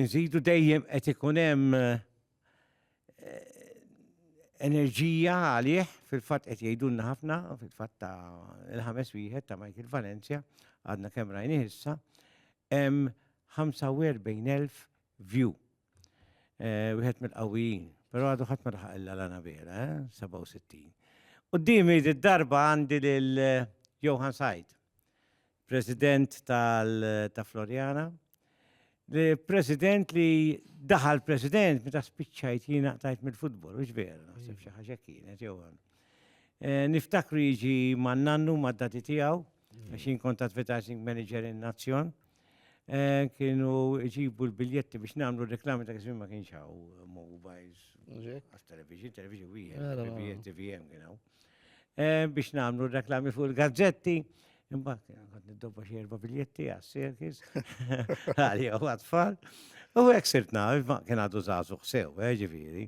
Inżidu dejjem qed ikun hemm eh, enerġija għalih, fil-fatt qed jgħidulna ħafna, fil-fatt ta' il-ħames wieħed ta' Michael Valencia, għadna kemm rajni issa, hemm 45,000 view. Eh, wieħed mill-qawwijin, però għadu ħadd ma laħaq illa lana vera, 67. Eh, Qudiemi d-darba għandi lil eh, Johan Said. President tal ta' Floriana. Li President li daħal President meta spiċċajt jiena qtajt mill-futbol, mhux vera, naħseb xi ħaġa kienet jew eh, Niftakru jiġi man nannu mad-dati tiegħu, għax jien kont advertising manager in Nazzjon. Eh, kienu ġibu l-biljetti biex namlu reklami ta' kismin ma kienx hawn mobiles, għas television, television wieħed, TVM kien hawn. biex namlu reklami fuq il-gazzetti. Imbagħad għad niddobba xi erba' biljetti għas-sirkis għalija u għatfall. U hekk sirt naf, ma kien għadu żagħżu ħsew, eh, ġifieri.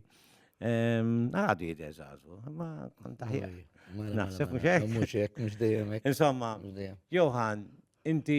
Għadu jidher żagħżu, ma kont aħjar. Naħseb mhux hekk. Mhux hekk, mhux dejjem hekk. Insomma, Johan, inti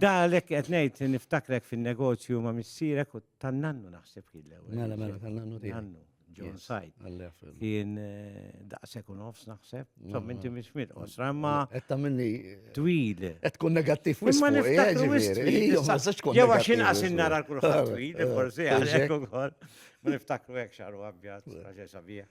Da għalhekk qed ngħid niftakrek fin-negozju ma' missierek u tan-nannu naħseb kien l-ewwel. Mela mela tan-nannu tiegħek. Nannu, John Said. Kien eh, daqshekk u nofs naħseb. Mela, Insomma mela. inti mhix mill qosra imma Qed tagħmilni twil. qed tkun negattiv wisq. Imma fuq, eh, niftakru ġifieri. wisq. Ejja, ma nistax tkun Jew għax negattiv inqas wisq. innara l-kulħadd twil, forsi għalhekk ukoll. Ma niftakru hekk xaru abjad, raġel sabiħ.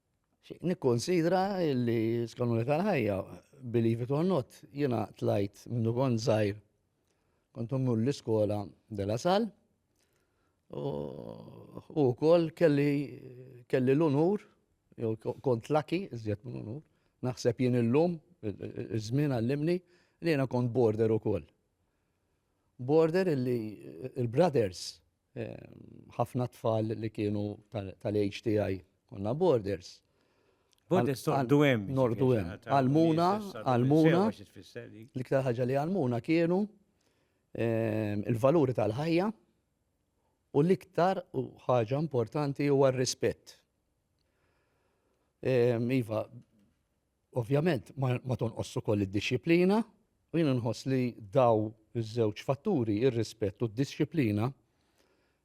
Nikkonsidra li skanuni tal-ħajja, believe it or not, jiena tlajt minnu kont żgħir kont mmur l-iskola dela sal u wkoll kelli kelli l-unur jew kont laki iżjed minn unur naħseb jien illum iż-żmien għallimni li jiena kont border ukoll. Border illi il-brothers ħafna tfal li kienu tal-age tiegħi konna borders. Borders tordu hemm. Nordu hemm. Għalmuna, għalmuna. L-iktar ħaġa li għalmuna kienu ehm, il-valuri tal-ħajja u l-iktar u ħaġa importanti huwa r-rispett. Ehm, iva, Ovvjament ma tonqosx ukoll id-dixxiplina u jien inħoss li daw iż-żewġ fatturi, ir-rispett u d-dixxiplina,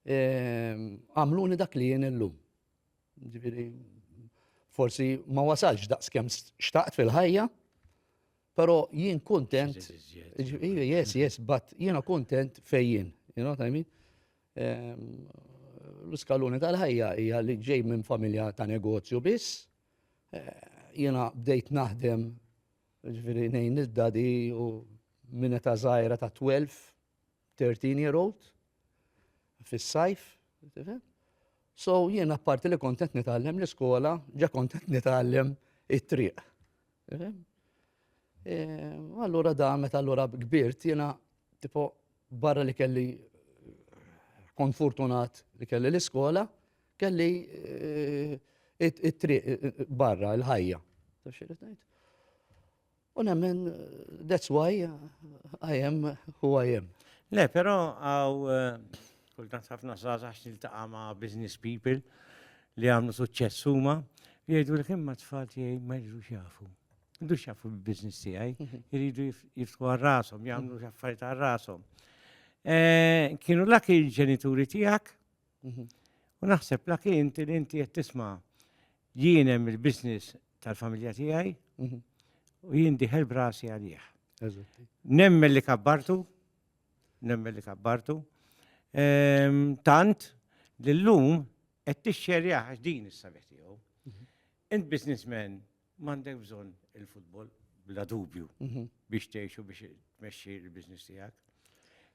ehm, għamluni dak li jien illum. Ġifieri forsi ma wasalx daqs kemm xtaqt fil-ħajja, però jien kuntent. Yes, yes, but jiena kuntent fejjin, you know what I mean? Ehm, l-iskaluni tal-ħajja hija li ġej minn familja ta' negozju biss, Jiena bdejt naħdem ġifieri ngħin lil dadi u minn età żgħira ta' 12, 13 year old fis-sajf. So jiena apparti li kontent nitgħallem l-iskola, ġa kontent nitgħallem it-triq. E, allura da meta allura kbirt jiena tipo barra li kelli kont fortunat li kelli l-iskola, Kelli eh, it-triq eh, barra, il-ħajja. U nemmen, that's why I am who I am. Le, pero għaw, eh, kultant ħafna zazax nil-taqa ma business people li għamlu suċċess huma, jgħidu li kemm ma tfal tiegħi ma jridux jafu. Jridux jafu bil-business tiegħi, mhm. jridu jiftħu għal rashom, jagħmlu xaffariet mhm. għal rashom. Eh, kienu lak il-ġenituri tiegħek U naħseb laki inti li inti qed tisma' jien hemm il-business tal-familja tiegħi u jien diħel brasi għalih. Nemmen li kabbartu, nemmen li kabbartu, ehm, tant li l-lum qed tixxerja għax din is-sabiħ tiegħu. Mhm. Int businessman M'għandek bżonn il-futbol bla dubju biex tgħix u biex tmexxi l-business tiegħek.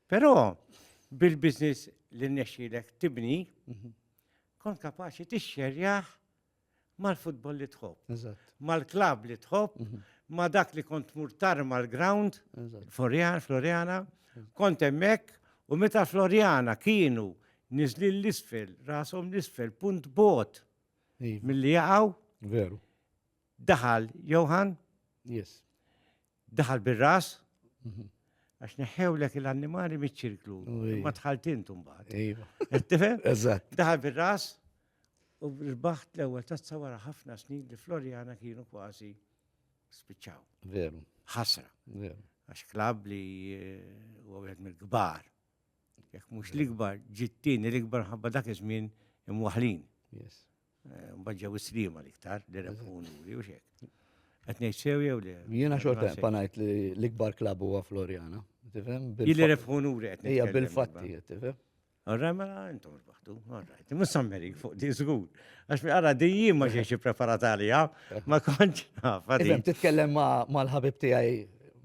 Però bil-business li nnexxilek tibni, kont kapaċi tixxerjaħ mal-futbol li tħobb, mal-klab li tħobb, ma dak li kont mur tarma l-ground, Floriana, Floriana, kont hemmhekk u meta Floriana kienu niżlin l-isfel, rashom l-isfel, punt bot Iva. Milli jaqgħu. Veru. Daħal Johan. Yes. Daħal bir-ras. Mhm. Għax neħħewlek l-annimali miċ-ċirklu. Ma tħalt intum baħt. Iva. Tifhem? Eżatt. Daħal bir-ras u rbaħt l-ewwel tazza wara ħafna snin li Floriana kienu kważi spiċċaw. Veru. Ħasra. Veru. Għax klab li eh, u għed mill-kbar. Jekk mhux l-ikbar, ġiet tieni l-ikbar ħabba dak iż-żmien imwaħlin. Yes. Eh, mbagħad ġew is-sliema l-iktar li rebħu nuri u xek. Qed ngħid sew jew le? Jiena xorta panajt li l-ikbar klabb huwa Floriana. Tifhem? Jilli rebħu nuri qed. Hija bil-fatti, tifhem? Għarra mela intom B'saħħtu, alright. Mhux sammeri fuq di żgur. Għax mi għara di jien ma ġejx ippreparat għalija, ma kontx naf. Iżem titkellem mal-ħabib tiegħi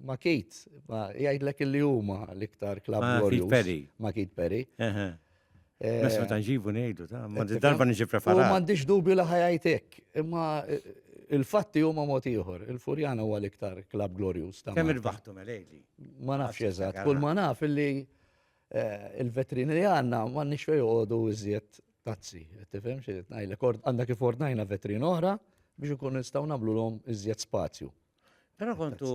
ma' Kit, ma' jgħidlek li huma l-iktar klab Perry. Ma' Kit Perry. Messa eh, ta' nġibu ngħidu ta' ma' darba niġi preparat. Ma għandix dubju li ħajajtek, imma eh, Il-fatti huma mod ieħor, il-Furjana huwa l-iktar klab glorjuż ta' Kemm il-baħtu melejli. Ma nafx eżatt, kull ma naf illi Eh, il-vetrini li għanna ma nix fej għodu iżjed tazzi. Tifem xie najlek, għanda kif ordnajna vetrin oħra biex ikun nistaw nablu l-om iżjed spazju. Pero kontu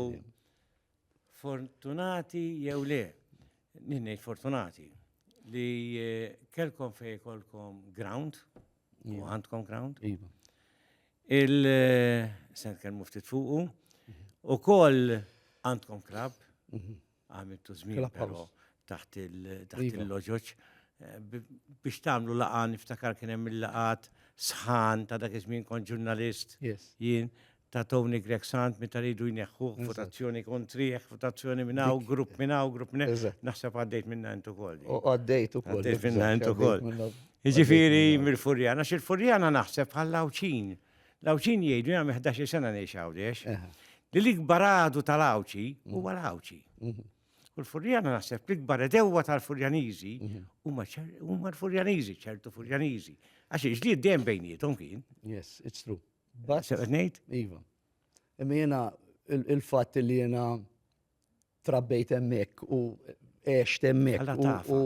fortunati jew le, ninnejt fortunati, li eh, kelkom fej kolkom ground, u għandkom ground. Iva. Il-sen eh, kelmu ftit fuqu, mhm. u koll għandkom krab, mhm. Għamiltu żmien però taħt il-loġoġ biex tagħmlu laqgħa niftakar kien hemm il-laqgħat sħan ta' dak iż-żmien kont ġurnalist jien ta' Tony Greg Sant meta ridu jneħħu votazzjoni kontrih, votazzjoni minn hawn, grupp minn hawn, grupp minn naħseb għaddejt minna intu koll. Għaddejt ukoll. Għaddejt minna intu koll. Jiġifieri mill-Furjana, xil-Furjana naħseb bħal-Lawċin. L-Għawdxin jgħidu, jien għamil 11-il sena ngħix Għawdex, li l-ikbar għadu tal-Għawdxi huwa l-Għawdxi. U l-Furjana naħseb l-ikbar edewwa tal-Furjaniżi huma ċer- huma l-Furjaniżi, ċertu Furjaniżi. Għax il-ġlied dejjem bejniethom kien. Yes, it's true. But, Se qed ngħid? Iva. Imma jena il-fat li jena trabbejt hemmhekk u għext hemmhekk u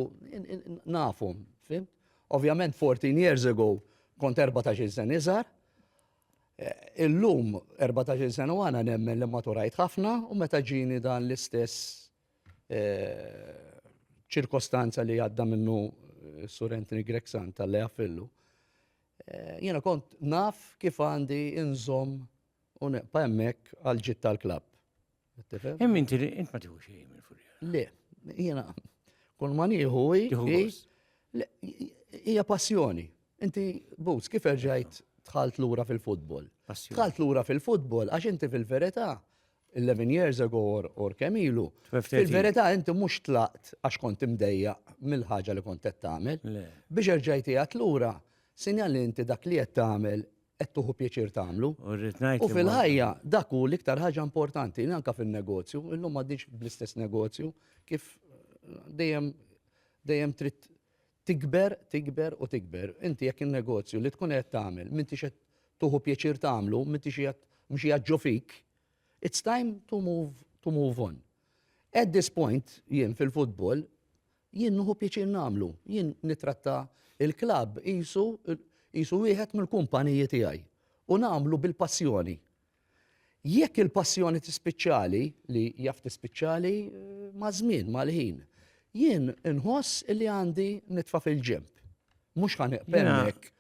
nafhom, fim? Ovvjament 14 years ago kont 14 sen iżgħar. Eh, illum 14 sena u għana nemmen li maturajt ħafna u meta ġini dan l-istess eh, ċirkostanza li għadda minnu eh, Sur Anthony Grexan tal-li għafillu. Jena kont naf kif għandi inżom u neqpa emmek għal-ġit tal-klab. Hemm inti li int ma tieħu xejn minn furja. Le, jiena kull ma nieħu hija passjoni. Inti bus kif erġajt tħalt lura fil-futbol. Tħalt lura fil-futbol għax inti fil-verità 11 years ago or, or kemilu. Fil-verità inti mhux tlaqt għax kont imdejja mill-ħaġa li kont qed tagħmel. Biex erġajti għat lura, sinjal li inti dak li qed tagħmel qed tuħu pjaċir tagħmlu. U rrid ngħid. U fil-ħajja dak hu l-iktar ħaġa importanti, anke fin-negozju, illum m'għaddix bl-istess negozju kif dejjem dejjem trid tikber, tikber u tikber. Inti jekk in-negozju li tkun qed tagħmel, minti qed tuħu pjaċir tagħmlu, minti xi mhux jaġġu fik, it's time to move to move on. At this point, jien fil-futbol, Jien nieħu pjaċir nagħmlu. Jien nittratta l-klabb qisu qisu wieħed mill-kumpaniji tiegħi u nagħmlu bil-passjoni. Jekk il-passjoni tispiċċali, li jaf tispiċċali maż-żmien, mal-ħin, jien inħoss li għandi nitfa' fil-ġemp. Mhux ħa neqpem hekk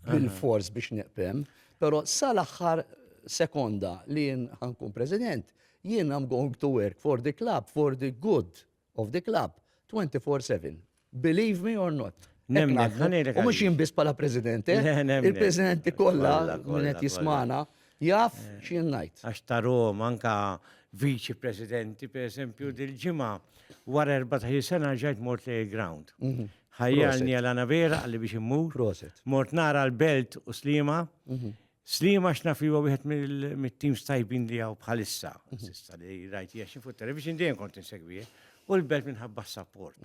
bil-fors biex neqpem, però sal-aħħar sekonda li jien ħankun president, jien I'm going to work for the club, for the good of the club 24/7. Believe me or not. U mux jien biss bħala president, eh? il-presidenti kollha minn qed jismana jaf eh, x'jien ngħid. Għax ta' Roma anka viċi presidenti per esempio dil-ġimgħa wara 14 sena ġajt mort li ground. Mhm. Ħajjalni għal vera għalli biex immur. Mort nara l-belt u slima. Mhm. Sliema x'naf li huwa wieħed mit-teams tajbin li hawn bħalissa, s'issa li rajt hija xi fuq television dejjem kont insegwih, u l-belt minħabba s-sapport.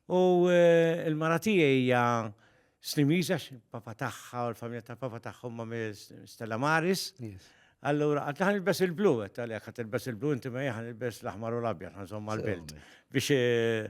U eh, l-mara tiegħi hija Slimiża papa tagħha u l-familja tal-papa tagħhom ma' Stella Maris. Allura, għat naħan il-bes il-blu, għat għalek, għat il-bes il-blu, inti ma jħan il-bes l-ahmar u l-abja, għanżom mal-belt. Biex eh,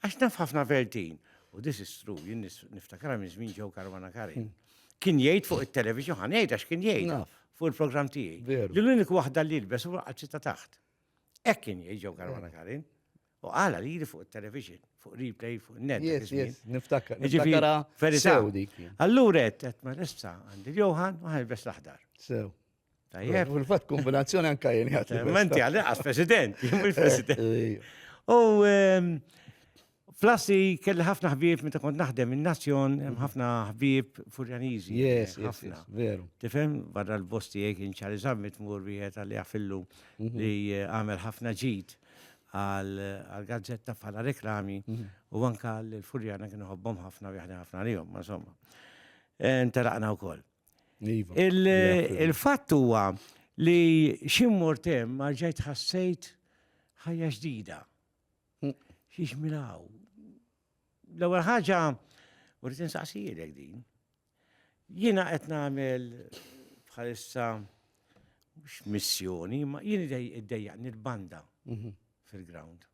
Għax naf ħafna Vertin, u this is true, jien niftakar minn żmien ġew Karwana Karin. Hmm. Kien jgħid fuq it-television, ħan jgħid għax kien jgħid fuq il-programm tiegħi. Li l-unik waħda li lbes u għadċi ta' taħt. Hekk kien jgħid ġew Karwana hmm. Karin. U għala li jiri fuq il-television, fuq replay, fuq net. Yes, yes, niftakar. Niftakara. Allura, għet, għet ma l-issa għandi l-Johan, u għan l-bes l-aħdar. Sew. Tajjeb. Fil-fatt kombinazzjoni anka jien jgħati. Menti għalli għas president, jimmi president. U ehm, flassi kelli ħafna ħbib meta kont naħdem in-nazzjon, hemm ħafna ħbib furjaniżi. Yes, ħafna. Veru. Tifhem barra l-bosti jek inċari zammit mur wieħed għalli għafillu mhm. li eh, għamel ħafna ġid għal-gazzetta bħala reklami mhm. u anka l-furjana kienu ħobbom ħafna u jahdi ħafna li jom, ma somma. Interaqna u koll. Iva. Il-fatt huwa li xim mortem marġajt ħassejt ħajja ġdida. Mm. Xiex milaw. L-ewwel ħaġa u rrid insaqsijilek din. Jiena qed nagħmel bħalissa mhux missjoni, ma jien iddejjaqni l-banda mhm. fil-ground.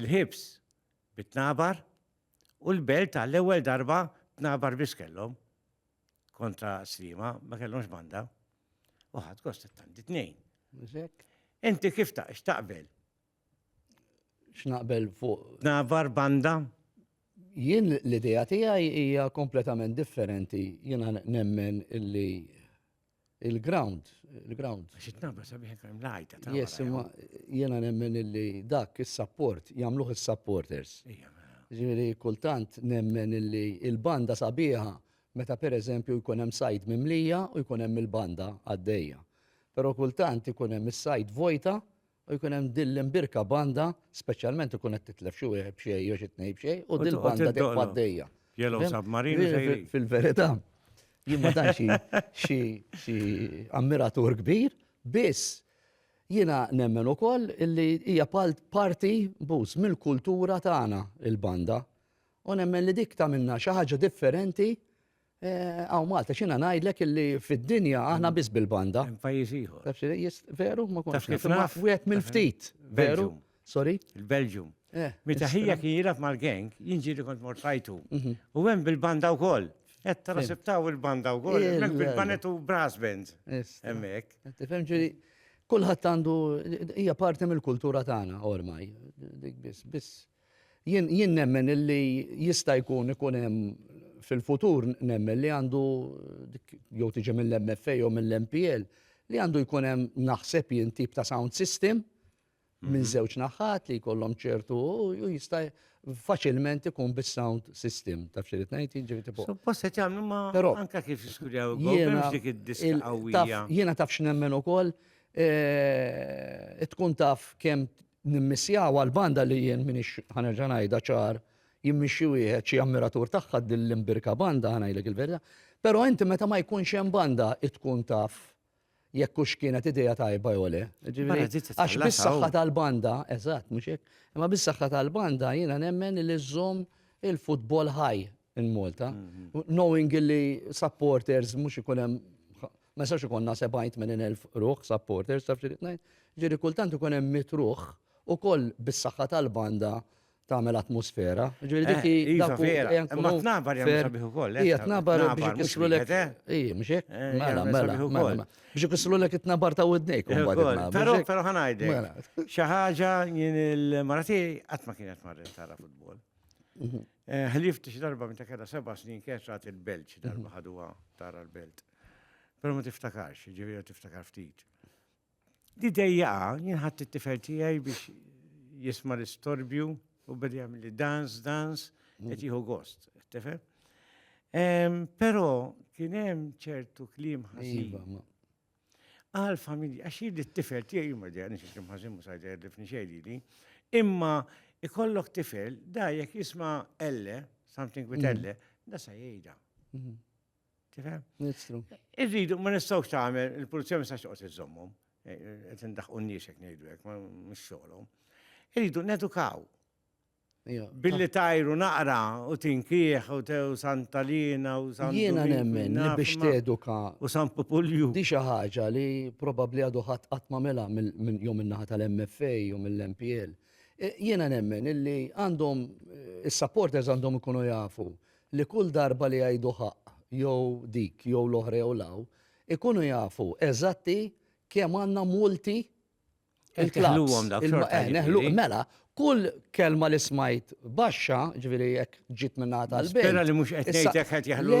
Il-ħibs bit-tnabar u l-belt għall-ewwel darba tnabar biss kellhom kontra Sliema, ma kellhomx banda. U ħadd gost it-tant it-tnejn. Inti kif ta' x'taqbel? X'naqbel fuq? Tnabar banda? Jien l-idea tiegħi hija kompletament differenti. Jiena nemmen illi il-ground, il-ground. Għax it-nabra sabiħ kemm lajta. Yes, imma jiena nemmen illi dak is-support jagħmluh is-supporters. Mela. Ġifieri kultant nemmen illi il-banda sabiħa meta pereżempju jkun hemm sajd mimlija u jkun hemm il-banda għaddejja. Però kultant ikun hemm is-sajd vojta u jkun hemm din l-imbirka banda, speċjalment ikun qed titlef xi wieħed b'xejn jew xi tnejn b'xejn, u din banda dejjem għaddejja. Jellow submarine sejri. Fil-verità, jien ma tantx xi ammiratur kbir, biss jiena nemmen ukoll li hija parti bus mill-kultura tagħna il-banda. U nemmen li dik ta' minna xi ħaġa differenti Eh, Għaw Malta, xina najdlek illi fid-dinja aħna mm. biss bil-banda. Pajjiż ieħor. Taf jist, veru, ma konx. Taf kif naf? Wieħed mill-ftit. Veru. Sorry? Il-Belġum. Eh, Meta ħija kien jilaf mal-gang, jinġi li kont mortajtu. Mhm. U hemm bil-banda wkoll. Qed tarasibtaw il-banda wkoll, hemmhekk bil-banet u brass band. Hemmhekk. Tifhem ġieli kulħadd għandu hija parti mill-kultura tagħna ormaj. Biss biss Jien jien nemmen illi jista' jkun ikun hemm fil-futur nemmen li għandu jew tiġi mill-MFA jew mill-MPL li għandu jkun hemm naħseb jien tip ta' sound system minn mhm. żewġ naħat li jkollhom ċertu u jista' faċilment ikun bis-sound system ta' fxirit ngħid jiġri tipo. Suppost qed jagħmlu ma anke kif jiskurjaw jiena dik id-diska qawwija. Jiena taf x'nemmen ukoll eh, tkun taf kemm Nimmissjaw għal banda li jien minix ħanerġa' ngħidha ċar jimmixxi wieħed xi ammiratur tagħha din l-imbirka banda ħanajlek il-verità. Però inti meta ma jkunx hemm banda tkun taf jekk hux kienet idea tajba jew le. Għax bis-saħħa tal-banda, eżatt mhux hekk, imma bis-saħħa tal-banda jiena nemmen li żżomm il-futbol ħaj in Malta. Mhm. Knowing li supporters mhux ikun hemm Ma jistax ikollna 70,000 ruħ supporters, taf x'irid ngħid? Ġifieri kultant ikun hemm mitt ruħ ukoll bis-saħħa tal-banda tagħmel atmosfera. Ġifieri dik hi eh, dak vera. Imma tnabar jagħmel sabiħ ukoll. Hija tnabar biex ikissru lek. Ija, mhux hekk? Eh, mela, mela, mela. Biex ikissru lek it-tnabar ta' widnejk. Però però ħanajdek. Mela. Xi ħaġa jien il-marati qatt ma kienet marret tara futbol. Mhm. Eh, ħlift xi darba minn ta' keda seba' snin kienet rat il-Belġ darba mhm. ħaduha tara l-Belt. Pero ma tiftakarx, ġiviri tiftakar ftit. Di dejjaqa, jien ħadd it-tifel tiegħi biex jisma' l-istorbju u bedi jagħmel li dans, dans, mm. qed jieħu gost, tifel. Però kien hemm ċertu kliem ħażin. Iva, Għal familji, għax jiddi t-tifel tiegħi jimma di għanix kliem ħażin mhux għajda jadifni xejn li. Imma ikollok tifel, da jekk jisma' elle, something with mm. elle, da sa jgħidha. Mm-hmm. Tifhem? Nistru. Irridu, ma nistgħux tagħmel, il-pulizija ma nistax toqgħod iżommhom. Eh, eh, qed indaħqu n-nies hekk ngħidu hekk, ma mhux xogħolhom. Irridu nedukaw. Billi tajru naqra u tinkieħ u tew Santalina u San Jiena nemmen li biex teduka u San Populju. Di xi ħaġa li probabbli għadu ħadd qatt ma mela minn jew min-naħa tal-MFA jew mill-MPL. E, jiena nemmen illi għandhom eh, is-supporters għandhom ikunu jafu li kull darba li jgħidu ħaqq jew dik jew l-oħra jew l-hawn, ikunu jafu eżatti kemm għandna multi il-klabbs. Eh, mela, kull kelma li smajt baxxa, ġviri jek ġit minna tal bej Spera li mux etnejtek għet jahlu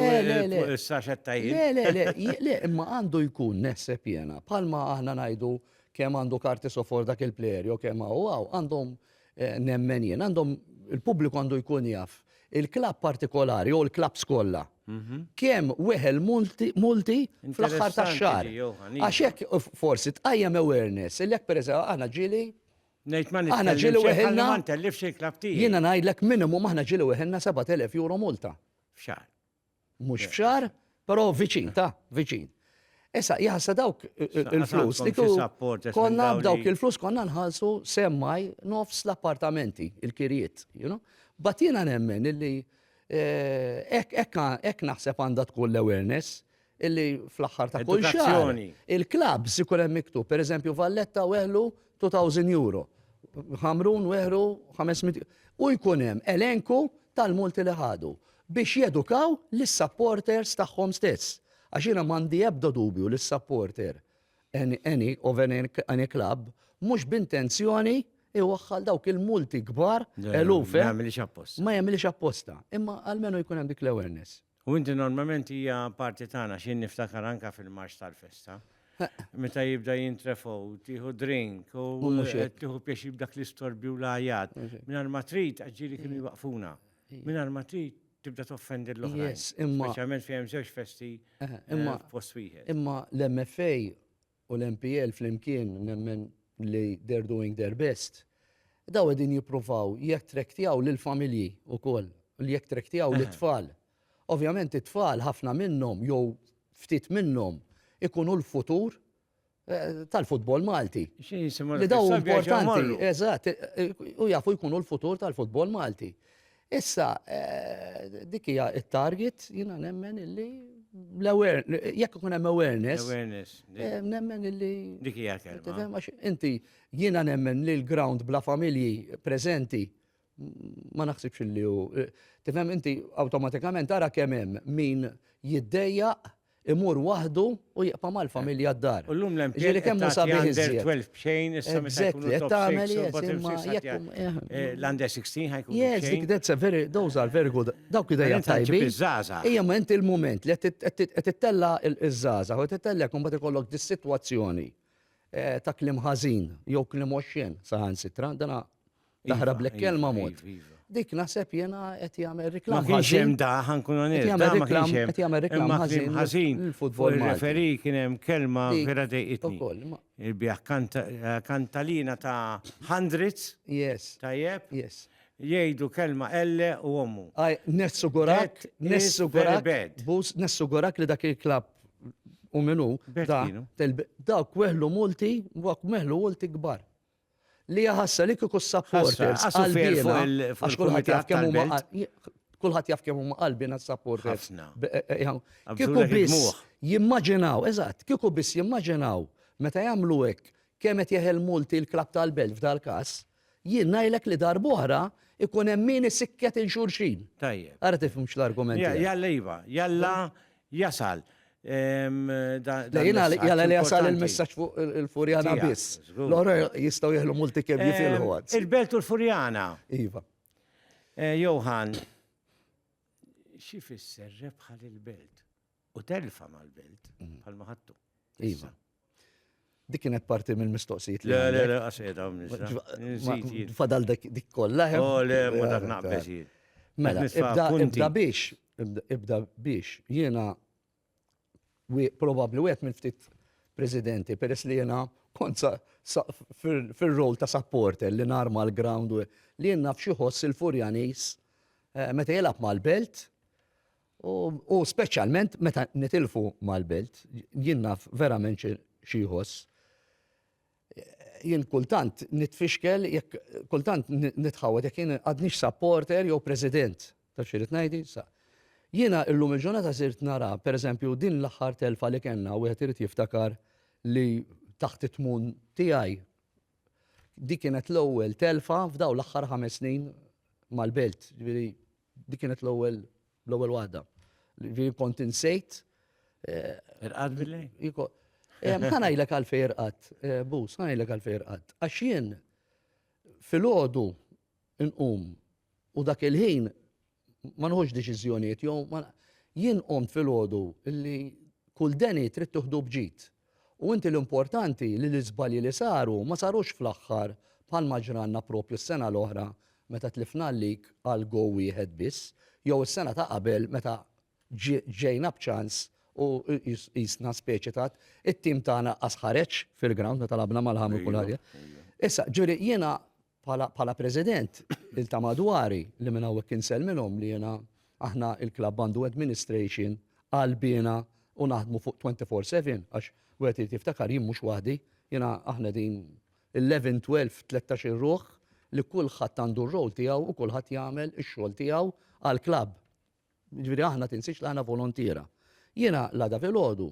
s-saxet tajjeb. Le, le, le, le, imma għandu jkun neħseb jena, palma aħna najdu kem għandu karti sofor dak il-player, jo kem għaw għaw, għandhom Nemmen jien għandhom il-pubbliku għandu jkun jaf il-klabb partikolari jew il-klabbs kollha kemm weħel multi fl-aħħar tax-xahar. Għax hekk forsi tqajjem awareness li jekk pereżempju aħna ġieli Nejt ma Aħna ġieli weħilna. Ma ntellifx il-klabb tiegħi. Jiena ngħidlek minimum aħna ġieli weħilna 7,000 euro multa. F'xahar. Mhux f'xahar, però viċin, ta', viċin. Issa, jaħsa dawk il-flus li konna b'dawk il-flus konna nħallsu semmaj nofs l-appartamenti, il-kirjiet, you know? Bat jiena nemmen illi eh, ekk naħseb għandha tkun l-awareness illi fl-aħħar ta' kull xahar il-klabs ikun hemm miktub, pereżempju Valletta weħlu 2000 euro, Ħamrun weħlu 500 u jkun hemm elenku tal-multi li ħadu biex jedukaw lis-supporters tagħhom stess. Għax jiena m'għandi ebda dubju li s-supporter any of any club mhux b'intenzjoni iwaħħal dawk il-multi kbar eluf. Ma jagħmilx apposta. Ma jagħmilx apposta. Imma almenu jkun hemm dik l-awareness. U inti normalment hija parti tagħna x'jien niftakar anka fil-marx tal-festa. Meta jibda jintrefgħu, tieħu drink u tieħu piex jibdak l-istorbi u l-ajat. Mingħajr ma trid ġieli kienu jwaqfuna. Mingħajr ma trid tibda toffendi l-oħrajn. Imma speċjalment fejn żewġ festi eh, imma eh, post wieħed. Imma l-MFA u l-MPL flimkien nemmen li they are doing their best, dawn qegħdin jippruvaw jattraktjaw lill-familji wkoll, li jattraktjaw lit-tfal. Ovvjament it-tfal ħafna minnhom jew ftit minnhom ikunu l-futur tal-futbol Malti. Xi jisimgħu l-futbol Malti? Eżatt, u jafu jkunu l-futur tal-futbol Malti. Issa, dik hija t-target, jiena nemmen illi jekk ikun hemm awareness. Awareness. Nemmen illi. Dik hija kelma. Inti jiena nemmen li l-ground bla familji preżenti ma naħsibx li hu. Tifhem inti awtomatikament ara kemm hemm min jiddejjaq imur waħdu u jibqa' mal-familja d-dar. U llum l-MP Ġieli kemm hu sabiħ iżjed. 12 b'xejn issa meta jkunu top 6 tagħmel u bottom 6 l-under 16 ħajkun. Yes, dik that's a very those are very good. Dawk idejja tajbin. Ejja ma inti l-mument li qed tittella' iż-żaża u tittella' jkun bad ikollok dis-sitwazzjoni ta' kliem ħażin jew kliem oxxen saħansitra dana Taħrablek iva, kelma iva, mod. Iva, dik naħseb jena qed jagħmel reklam. Ma kienx hemm da ħankun onest. Jagħmel reklam, qed jagħmel reklam ħażin. Ħażin. Il-futbol referi kien hemm kelma vera dejqitni. Il-biħ kantalina ta' hundreds. Yes. Tajjeb. Yes. Jgħidu kelma elle u ommu. Aj, nessu gorak, nessu gorak, bus, nessu gorak li dak il-klab u minu, da, da, kweħlu multi, wak meħlu multi gbar. Li hija ħasra li kieku s-supporters qalbiena, għax kulħadd jaf kemm huma kulħadd jaf kemm huma qalbiena s-supporters. Kieku biss jimmaġinaw, eżatt, kieku biss jimmaġinaw meta jagħmlu hekk kemm qed jeħel multi l-klab tal-belt f'dal-każ, jien ngħidlek li darb'oħra ikun hemm min isikket il-xulxin. Tajjeb. Ara tifhimx l-argument. Jalla iva, jalla jasal dan il-messaġġ. Jalla li jasal il-messaġġ fuq il-Furjana biss. L-oħra jistgħu jieħlu multi kemm jifilħu għad. Il-Belt u l-Furjana. Iva. Eh, Johan, xi fisser rebħa lill-Belt u telfa mal-Belt mm. bħal maħattu. Iva. Dik kienet parti mill-mistoqsijiet li. Le, le, le, għasqed għam nisra. Fadal dik kollha. Eh? Oh, le, ma dak naqbes jien. Mela, ibda biex, ibda biex, jiena probabli wieħed minn ftit presidenti, peress li jiena konza fil-rol ta' supporter li narma l-ground li jenna fxieħos il-Furjanis eh, meta jelab mal-belt U speċjalment meta nitilfu mal-belt, jien naf verament xi jħoss. Jien kultant nitfixkel, kultant nitħawad jekk jien għadnix supporter jew president. Ta' xi rid ngħidi? Jiena illum il-ġurnata sirt nara, pereżempju, din l-aħħar telfa li kellna wieħed irid jiftakar li taħt it-tmun tiegħi dik kienet l-ewwel telfa f'dawn l-aħħar ħames snin mal-belt. Dik kienet l-ewwel l-ewwel waħda. Ġifieri kont insejt. Eh, irqad billi? Eh, ħanajlek għalfej irqad, eh, bus, ħanajlek għalfej irqad. Għax jien fil-ħodu nqum u dak il-ħin ma nħuġ deċiżjonijiet jew jien qomt fil-ħodu li kull deni trid tuħdu bġid. U inti l-importanti li l-iżbalji li saru ma sarux fl-aħħar bħalma ġralna proprju s-sena l-oħra meta tlifna l-lig għal gow wieħed biss jew is-sena ta' qabel meta ġejna b'ċans u qisna speċi ta' it-tim tagħna qas ħareġ fil-ground meta lagħabna Malham u kulħadd. Issa, ġifieri jiena Bħala President, il ta' madwari li minn hawnhekk insellmilhom li jiena aħna il-klabb għandu administration qalbiena u naħdmu fuq 24 four seven għax wieħed irid jiftakar jien mhux waħdi, jiena aħna qegħdin eleven, twelve, tlettax-il ruħ li kulħadd għandu r-role tiegħu u kulħadd jagħmel ix-xogħol tiegħu għall-klabb. Jiġifieri aħna tinsiex li aħna volontiera. Jiena l-għada filgħodu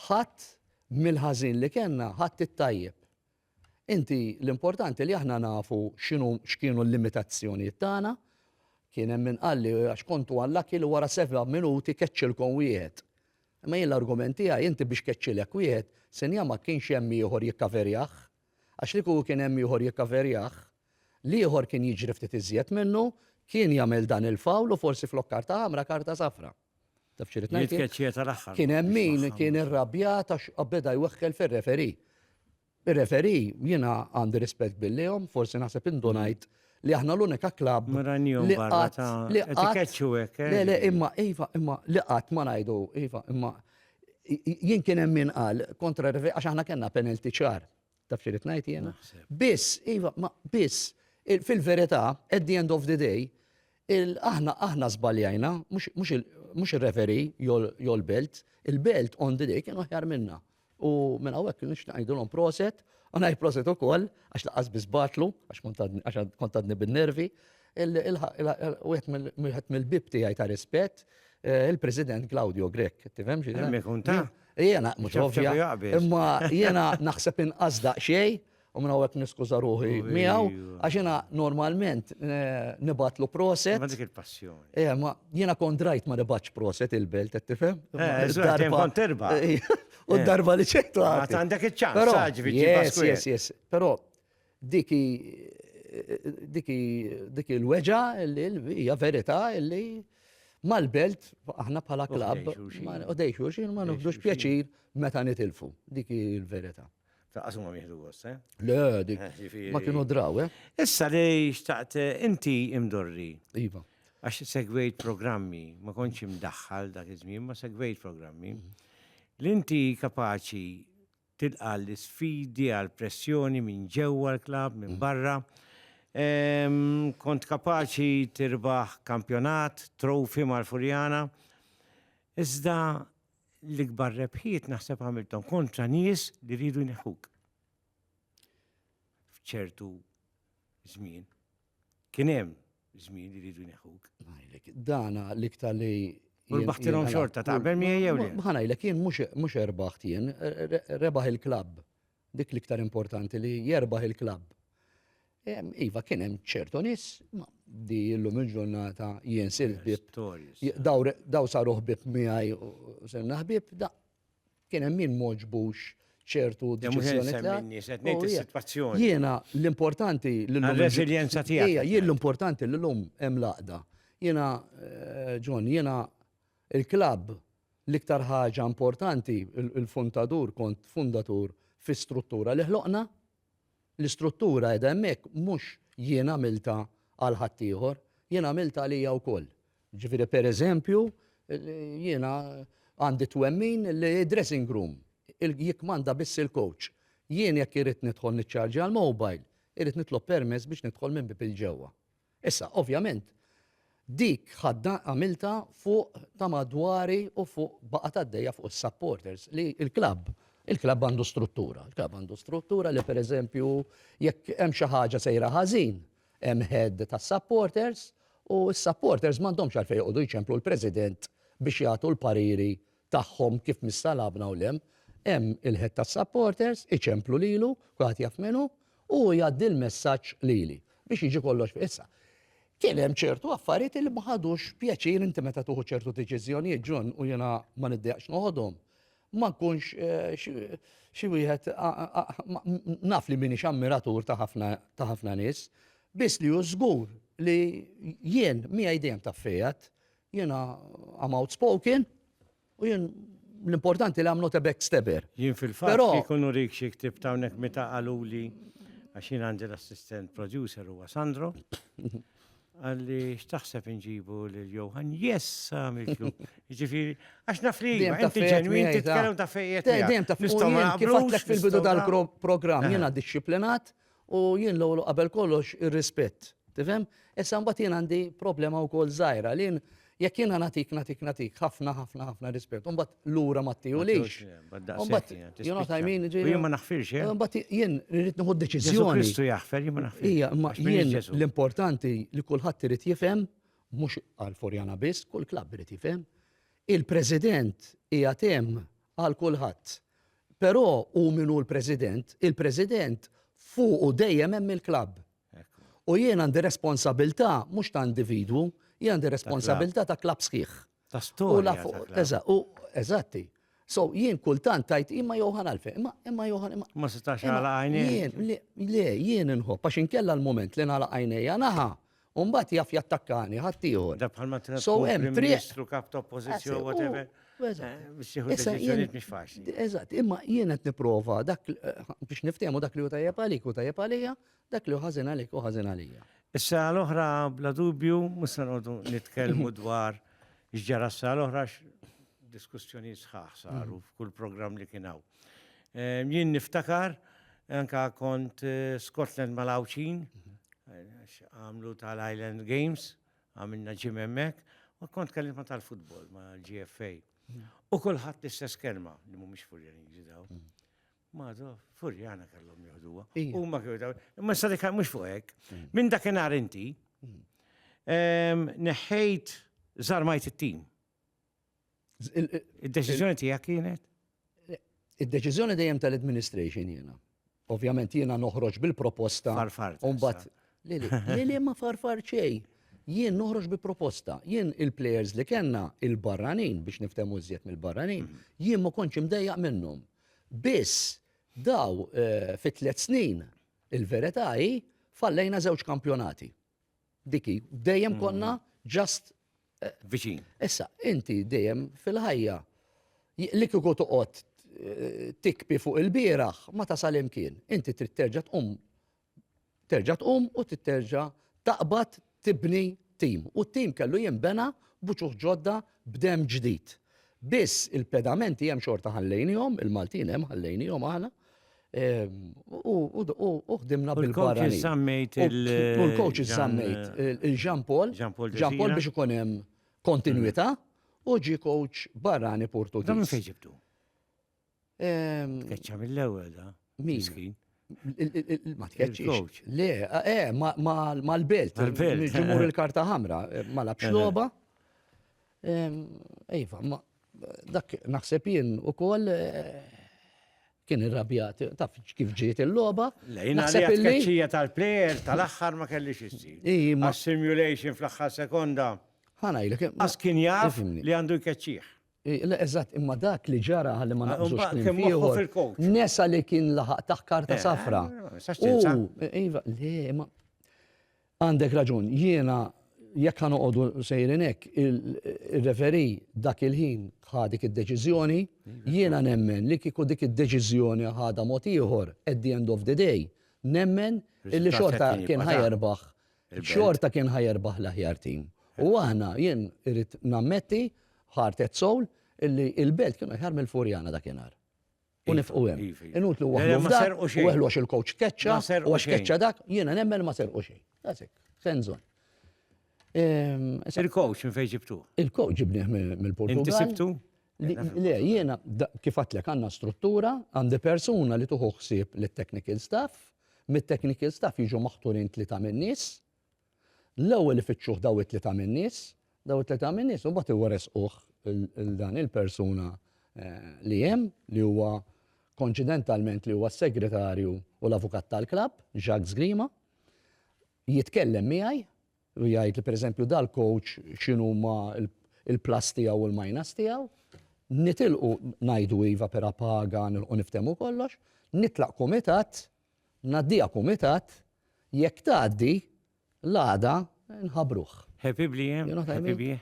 ħadd mill-ħażin li kellna ħadd it-tajjeb. Inti l-importanti li aħna nafu x'inhu x'kienu l-limitazzjonijiet tagħna. Kien hemm min qal li għax kontu unlucky li wara seba' minuti keċċilkom wieħed. Imma jien l-argument tiegħi inti biex keċċilek wieħed, sinjah ma kienx hemm ieħor jikkaverjah. Għax li kieku kien hemm ieħor jikkaverjah, l-ieħor kien jiġri ftit iżjed minnu, kien jagħmel dan il-foul u forsi flok karta ħamra karta safra. Taf xirrit ngħid? Jitkeċċija tal-aħħar. Kien hemm min kien irrabjat għax beda jweħħel fir-referi. Ir-referi jiena għandi rispett billihom, forsi naħseb indunajt li aħna l-unika klabb li qatt li qatt eh? le le imma iva imma li qatt ma ngħidu iva imma jien kien hemm min qal kontra għax aħna kellna penalty ċar Taf xi rid ngħid jiena? Biss, iva, ma biss, fil-verità, at the end of the day, aħna aħna żbaljajna, mhux ir-referi jew l-belt, il-belt on the day kienu ħjar minna. U minn hawnhekk kienu xtaqgħidulhom proset, u ngħid proset ukoll għax laqas biss batlu, għax kontadni bin-nervi, Wieħed mill-bib tiegħi ta' rispett, il-President Claudio Grech, tifhem xi Hemm ikun ta'. Jiena mhux ovvja. Imma jiena naħseb inqas daqsxejn u minn hawnhekk niskuża ruħi miegħu għax jiena normalment nibgħatlu proset. Ma dik il-passjoni. Eh, ma jiena kont rajt ma nibgħatx proset il-belt qed tifhem. Darba terba. U darba li ċejtu. Għandek iċ-ċans, ġifieri. Yes, yes, yes. Però Dik hi dik hi dik hi l-weġa' li hija verità li mal-belt aħna bħala klabb u dej xulxin ma nibdux pjaċir meta nitilfu. Dik hi l-verità. Ta' qasum ma jieħdu gost, eh? Le, dik. Eh, jiġifieri- Ma kienu draw, eh? Issa li xtaqt eh, inti imdorri. Iva. Għax segwejt programmi, ma konċ imdaħħal dak iż-żmien, ma segwejt programmi. Mhm. L-inti kapaċi tilqa' l-isfidi għall-pressjoni minn ġewwa l-klabb, minn barra. Kont kapaċi tirbaħ kampjonat, trophy mal-Furjana. Iżda l-ikbar rebħiet naħseb għamilthom kontra nies li riedu jneħħuk f'ċertu żmien. Kien hemm żmien li rridu jneħħuk. Ngħidlek, dana l-iktar li. U rbaħtilhom xorta taqbel miegħi jew le? Ma ngħidlek jien mhux erbaħt jien, rebaħ il-klabb. Dik l-iktar importanti li jerbaħ il-klabb. Iva kien hemm ċertu nies, ma di llum il-ġurnata jien sir ħbieb. Daw saru ħbieb miegħi u sirna ħbieb, da Kien hemm min m'għoġbux ċertu deċiżjoni tiegħek. Jiena l-importanti li l-lum. Reżiljenza tiegħek. Ejja, jien l-importanti li l-lum hemm laqda. Jiena eh, John, jiena il-klabb l-iktar ħaġa importanti il-fundatur kont fundatur fi struttura li ħloqna L-istruttura qiegħda hemmhekk mhux jien għamiltha għal ħaddieħor, jien għamiltha għalija wkoll. Ġifieri pereżempju, jiena għandi t-twemmin li d-dressing room jikkmanda biss il-coach. Jien jekk irrid nidħol niċċarġja l-mobile, irrid nitlob permess biex nidħol minn bieb il-ġewwa. Issa, ovvjament, dik ħaddan għamiltha fuq ta' madwari u fuq baqgħet għaddejja fuq is-supporters li l-klabb il-klabb għandu struttura. Il-klabb għandu struttura li pereżempju jekk hemm xi ħaġa sejra ħażin, hemm head tas-supporters u s-supporters m'għandhomx għalfejn joqogħdu jċemplu l-president biex jagħtu l-pariri tagħhom kif missa lagħabna u l-hemm, hemm il-head tas-supporters, iċemplu lilu, kulħadd jaf min hu, u hu jgħaddi l-messaġġ lili biex jiġi kollox fi issa. Kien hemm ċertu affarijiet li ma ħadux pjaċir inti meta tuħu ċertu deċiżjonijiet ġun u jiena ma niddejaqx noħodhom. Ma nkunx eh, xi wieħed naf li minix ammiratur ta' ħafna nies, biss li hu żgur li jien miegħi dejjem ta' fejat Jiena I'm outspoken u jien l-importanti li I'm not a backstabber. Jien fil-fatt jkunu rik xi ktib ta' hawnhekk meta qaluli għax jien għandi l-assistent producer huwa Sandro. Għalli x'taħseb inġibu lil Johan? Yes, għamiltlu. Ġifieri, għax naf li inti ġenwin titkellem ta' fejjet. Dejjem ta' fejjet. Kif fil-bidu tal-programm jiena dixxiplinat U jien l-ewwel u qabel kollox ir-rispett. Tifhem? Issa mbagħad jien għandi problema wkoll żgħira li jien jekk jiena nagħtik nagħtik nagħtik ħafna ħafna ħafna rispett u mbagħad lura ma ttihulix. U mbagħad you know what I mean? Jien ma naħfirx hekk. Mbagħad jien rrid nieħu deċiżjoni. Kristu jaħfer jien ma naħfirx. Ija, imma jien l-importanti li kulħadd irid jifhem mhux għal Forjana biss, kull klabb irid jifhem. Il-President hija hemm għal kulħadd. Però hu min hu l-President, il-President fuqu dejjem hemm il-klabb. U jien għandi responsabilità mhux ta' individwu, jien għandi responsabilità ta' klabb sħiħ. Ta' storja. Eżatti. So jien kultant tajt imma Johan għalfejn, imma imma Johan imma. Ma setax għala għajnejn. Le, jien inħobb għax inkella l-moment li nagħlaq għajnejja naħa U mbagħad jaf jattakkani ħadd ieħor. Da bħalma trid So tkun hemm Prim triq. Ministru, kap ta' oppożizzjoni, Eżatt, whatever. u- u eżatt. eh, Biex tieħu Issa, deċiżjonijiet jien- mhix faċli. Eżatt, imma jien qed nipprova dak l- eh, biex niftehmu dak li hu tajjeb għalik hu tajjeb għalija, dak li hu ħażin għalik hu ħażin għalija. Issa l-oħra bla dubju mhux se noqogħdu nitkellmu dwar x'ġara s-sala l-oħra x- diskussjoni sħaħ saru f'kull programm li kien hawn. Jien niftakar, anka kont eh, Scotland mal-Awċin, għamlu tal-Island Games, għamilna ġim emmek, u kont kellim ma tal-futbol, ma l-GFA. U kullħat l-istess kelma, li mu mux furjani ġidaw. Mado, furjana kellhom joħduwa. U ma kienu daw. Ma sa dik mhux fuq hekk. Minn dakinhar inti neħħejt żarmajt it-tim. Id-deċiżjoni tiegħek kienet? Id-deċiżjoni dejjem tal-administration jiena. Ovvjament jiena noħroġ bil-proposta. Farfar. Umbat, li li ma farfar xej. Jien noħroġ bi proposta. Jien il-players li kellna il-barranin biex niftemu żjed mill-barranin, mhm. jien ma kontx imdejjaq minnhom. Biss daw eh, fit tliet snin il-verità hi fallejna żewġ kampjonati. Diki, dejjem konna ġast. Eh, Viċin. Issa, inti dejjem fil-ħajja li kieku toqgħod eh, tikpi fuq il-bieraħ ma tasal imkien. Inti trid terġa' tqum terġa' tqum u titterġa' taqbad tibni tim. U t-tim kellu jinbena buċuħ ġodda b'dem ġdid. Biss il-pedamenti hemm xorta ħallejnihom, il-Maltin hemm ħallejnihom aħna, U ħdimna bil-barra. U l-coach iżammejt il-Jean Paul. Jean Paul biex ikun hemm kontinuità u ġi coach barrani Portugiż. Dan fejn ġibtu? Tkeċċa mill-ewwel da. Miskin. Ma tkeċċix. Le, eh, mal-belt. Ġimur il-karta ħamra, ma labx loba. Ejva, dak naħseb jien ukoll Kien irrabjat, taf kif ġiet il-logħba. Lejna li tkeċċija tal-plejer tal-aħħar ma kellix issir. Ma simulation fl-aħħar sekonda. Ħanajlek. Għas kien jaf li għandu jkeċċih. Eżatt, imma dak li ġara li ma naqbżux kien ieħor. Nesa li kien laħaq taħ karta safra. Iva, le, ma. Għandek raġun, jiena jekk ħa noqogħdu sejrin hekk, ir-referee dak il-ħin ħa dik id-deċiżjoni, jiena nemmen li kieku dik id-deċiżjoni ħadha mod ieħor at the end of the day, nemmen illi xorta kien ħa jerbaħ, xorta kien ħa jerbaħ l-aħjar tim. U aħna, jien irrid nammetti, heart at soul, illi l-Belt kienu aħjar mill-Furjana dakinhar. u nifqu hemm. Iva, iva. Inutlu waħlu eh, f'dak, u waħlu għax il-coach keċċa, u għax keċċa dak, jiena nemmen ma serqu xejn. Għasek, senżon. Ehm, il-coach minn fejn ġibtu? Il-coach ġibni mill-Portugal. Inti sibtu? Le, jiena kif għatlek għandna struttura, għandi persuna li tuħu ħsieb l-technical staff, mit-technical staff jiġu maħturin tlita minn nies, L-ewwel ifittxuh dawn it-tlieta min-nies, dawn it-tlieta min-nies imbagħad iweresquh lil dan il-persuna li hemm, li huwa konċidentalment li huwa s-segretarju u l-avukat tal-klabb, Jacques Grima, jitkellem miegħi u jgħidli pereżempju dal-coach x'inhuma l-plus tiegħu u l-minus tiegħu, nitilqu ngħidu iva pera paga nilħqu niftehmu kollox, nitlaq kumitat Ngħaddiha kumitat, jekk tgħaddi, l-għada nħabbruh. Happy blie, happy bie?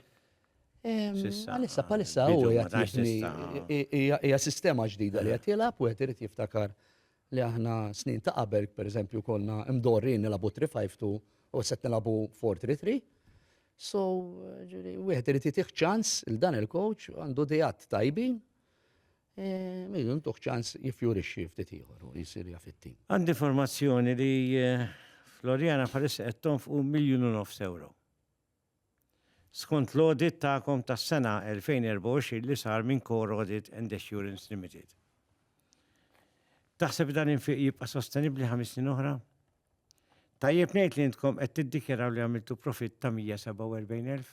Għalissa, bħalissa u hija sistema ġdida li qed jilgħab u qed irid jiftakar li aħna snin ta' qabel, per eżempju, konna mdorri nilabu 352 u set nilabu 433. So, wieħed irid jitih ċans il-dan il-coach għandu dijat tajbin Miżun tuħ ċans jiffjurixxi ftit ieħor u jsir jaf it-tim. Għandi informazzjoni li Floriana bħalissa qed tonfqu miljun u nofs ewro. Skont l-audit tagħkom tas-sena 2024 li sar minn Core Audit and Assurance Limited. Taħseb li dan l-infiq jibqa' sostenibbli ħames snin oħra? Tajjeb ngħid li intkom qed tiddikjaraw li għamiltu profitt ta' 147,000?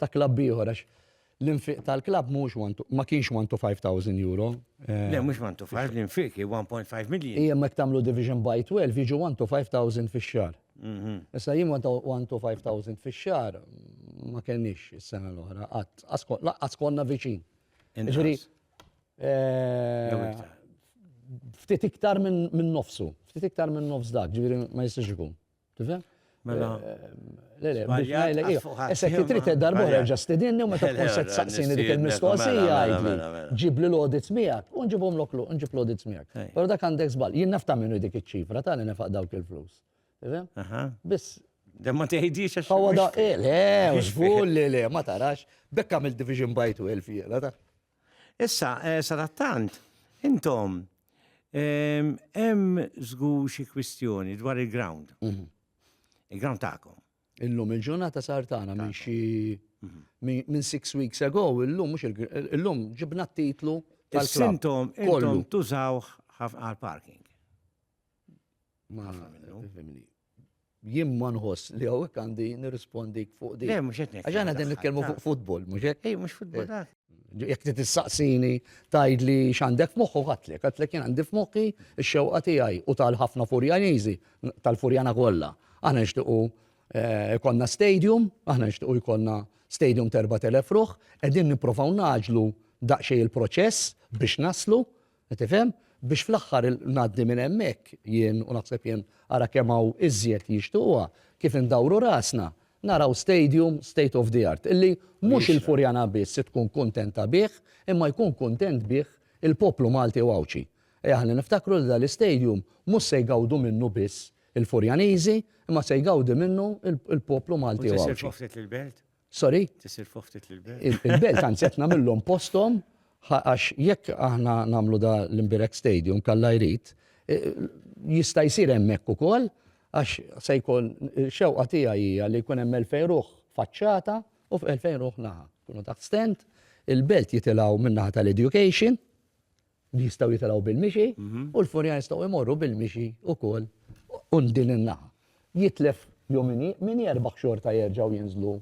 ta' klabb ieħor għax l-infiq tal-klabb mhuwiex one to ma kienx one to five thousand euro. Le mhux one to five, l-infiq hi 1.5 million. Ija jekk tagħmlu division by 12 jiġu one to five thousand fix-xahar. Issa jien one to one to five thousand fix-xahar ma kellniex is-sena l-oħra qatt. Lanqas konna viċin. Jiġifieri ftit iktar minn nofsu, ftit iktar minn nofs dak, jiġifieri ma jistax ikun. Tifhem? Mela. Eh, le, le, biex ngħidlek ija. Issa kif trid darba oħra ġa stidinni u meta tkun se tsaqsini dik il-mistoqsija għidli. Ġibli l-audits miegħek u nġibhom lok nġib l-audits miegħek. Però dak għandek żball. Jien nafta minnu dik iċ-ċifra tani nefaq dawk il-flus. Biss Dem ma teħidix għax. Għawa da, eh, le, użgur li le, ma tarax, bekk għamil division by 12 jena ta' Issa, eh, sadattant, intom, ehm, hemm żgur xi kwistjoni dwar il-ground. Mhm. Il-ground tagħkom. Illum il-ġurnata sar tagħna minn xi mhm. minn six weeks ago, illum mhux illum ġibna t-titlu tal-sintom kollu tużawh għal parking. Ma Jien ma nħoss li hawnhekk għandi nirrispondik fuq din. Le, mhux qed ngħid. Għax aħna qegħdin nitkellmu fuq futbol, mhux hekk? Ej, mhux futbol. Eh, jekk trid tistaqsini tgħidli x'għandek f'moħħu qatlek, qatlek jien għandi f'moħħi x-xewqa tiegħi u tal-ħafna Furjaniżi, tal-Furjana kollha. Aħna nixtiequ eh, konna stadium, aħna nixtiequ jkollna stadium terba telef ruħ, qegħdin nipprovaw naġlu daqsxejn il-proċess biex naslu, Qed tifhem? Biex fl-aħħar il, ngħaddi minn hemmhekk jien, u naħseb jien, ara kemm hawn iżjed li jixtiequha, kif indawru rasna, naraw stadium state of the art, illi mhux il-Furjana biss tkun kuntenta bih, imma jkun kuntent bih il-poplu Malti u Għawdxi. Ejja ħalli niftakru li dan l-istadium mhux se jgawdu minnu biss il-Furjaniżi, imma se jgawdi minnu il-poplu Malti u Għawdxi. U se jsir ġofnet lill-belt? Sorry? Tisir fuq ftit l-belt. Il-belt anzi qed nagħmilhom posthom għax jekk aħna nagħmlu da l-Imbirek Stadium kalla jrid jista' jsir hemmhekk ukoll għax se jkun xewqa tiegħi hija li jkun hemm 2000 ruħ faċċata u 2000 ruħ naħa. Kunu taħt stent, il-belt jitilgħu min-naħa tal-education, li jistgħu jitilgħu bil-mixi u l-furja jistgħu jmorru bil-mixi wkoll minn din in-naħa. Jitlef jew min jerbaħ xorta jerġgħu jinżlu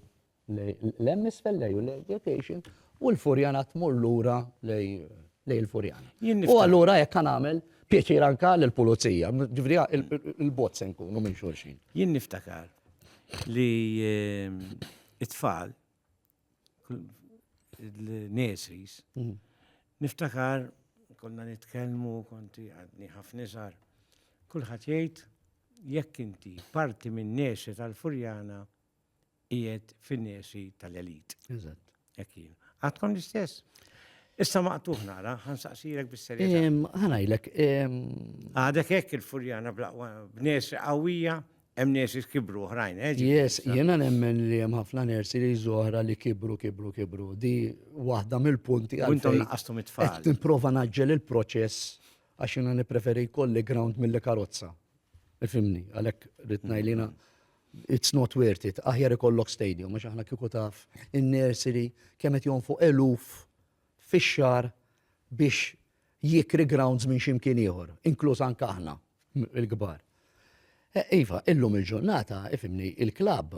lejn hemm isfel lejn l-education u l-furjana tmur lura lejn il-furjana. U allura hekk kan nagħmel pjaċir anka lill-pulizija, ġifieri il-bot se nkunu minn xulxin. Jien niftakar li ehm, it-tfal l-nesis, mhm. niftakar konna nitkellmu konti għadni ħafna iżgħar. Kulħadd jgħid jekk inti parti minn nesi tal-Furjana qiegħed fin-nesi tal-elit. Eżatt. Jekk jien. Għadkom l-istess. Issa maqtuħ nara, ħansaqsirek bis-serjetà. Ħanajlek. Għadek hekk il-Furjana b'nesi qawwija Hemm nurses kibru oħrajn, eh? ġifieri Yes, sa- jiena nemmen li hemm ħafna nersi li zoħra li kibru, kibru, kibru. Di waħda mill-punti U intom għalfejn naqqastom qed it-tfal. nipprova naġġel il-proċess għax jiena nippreferi jkolli ground milli karozza. Ifimni, għalhekk rrid ngħidlina it's not worth it, aħjar ikollok stadium għax aħna kieku taf in-nursery kemm qed jonfu eluf fix-xar biex jikri grounds minn x'imkien ieħor, inkluż anke aħna il-kbar. Iva, illum il-ġurnata, ifimni, il-klabb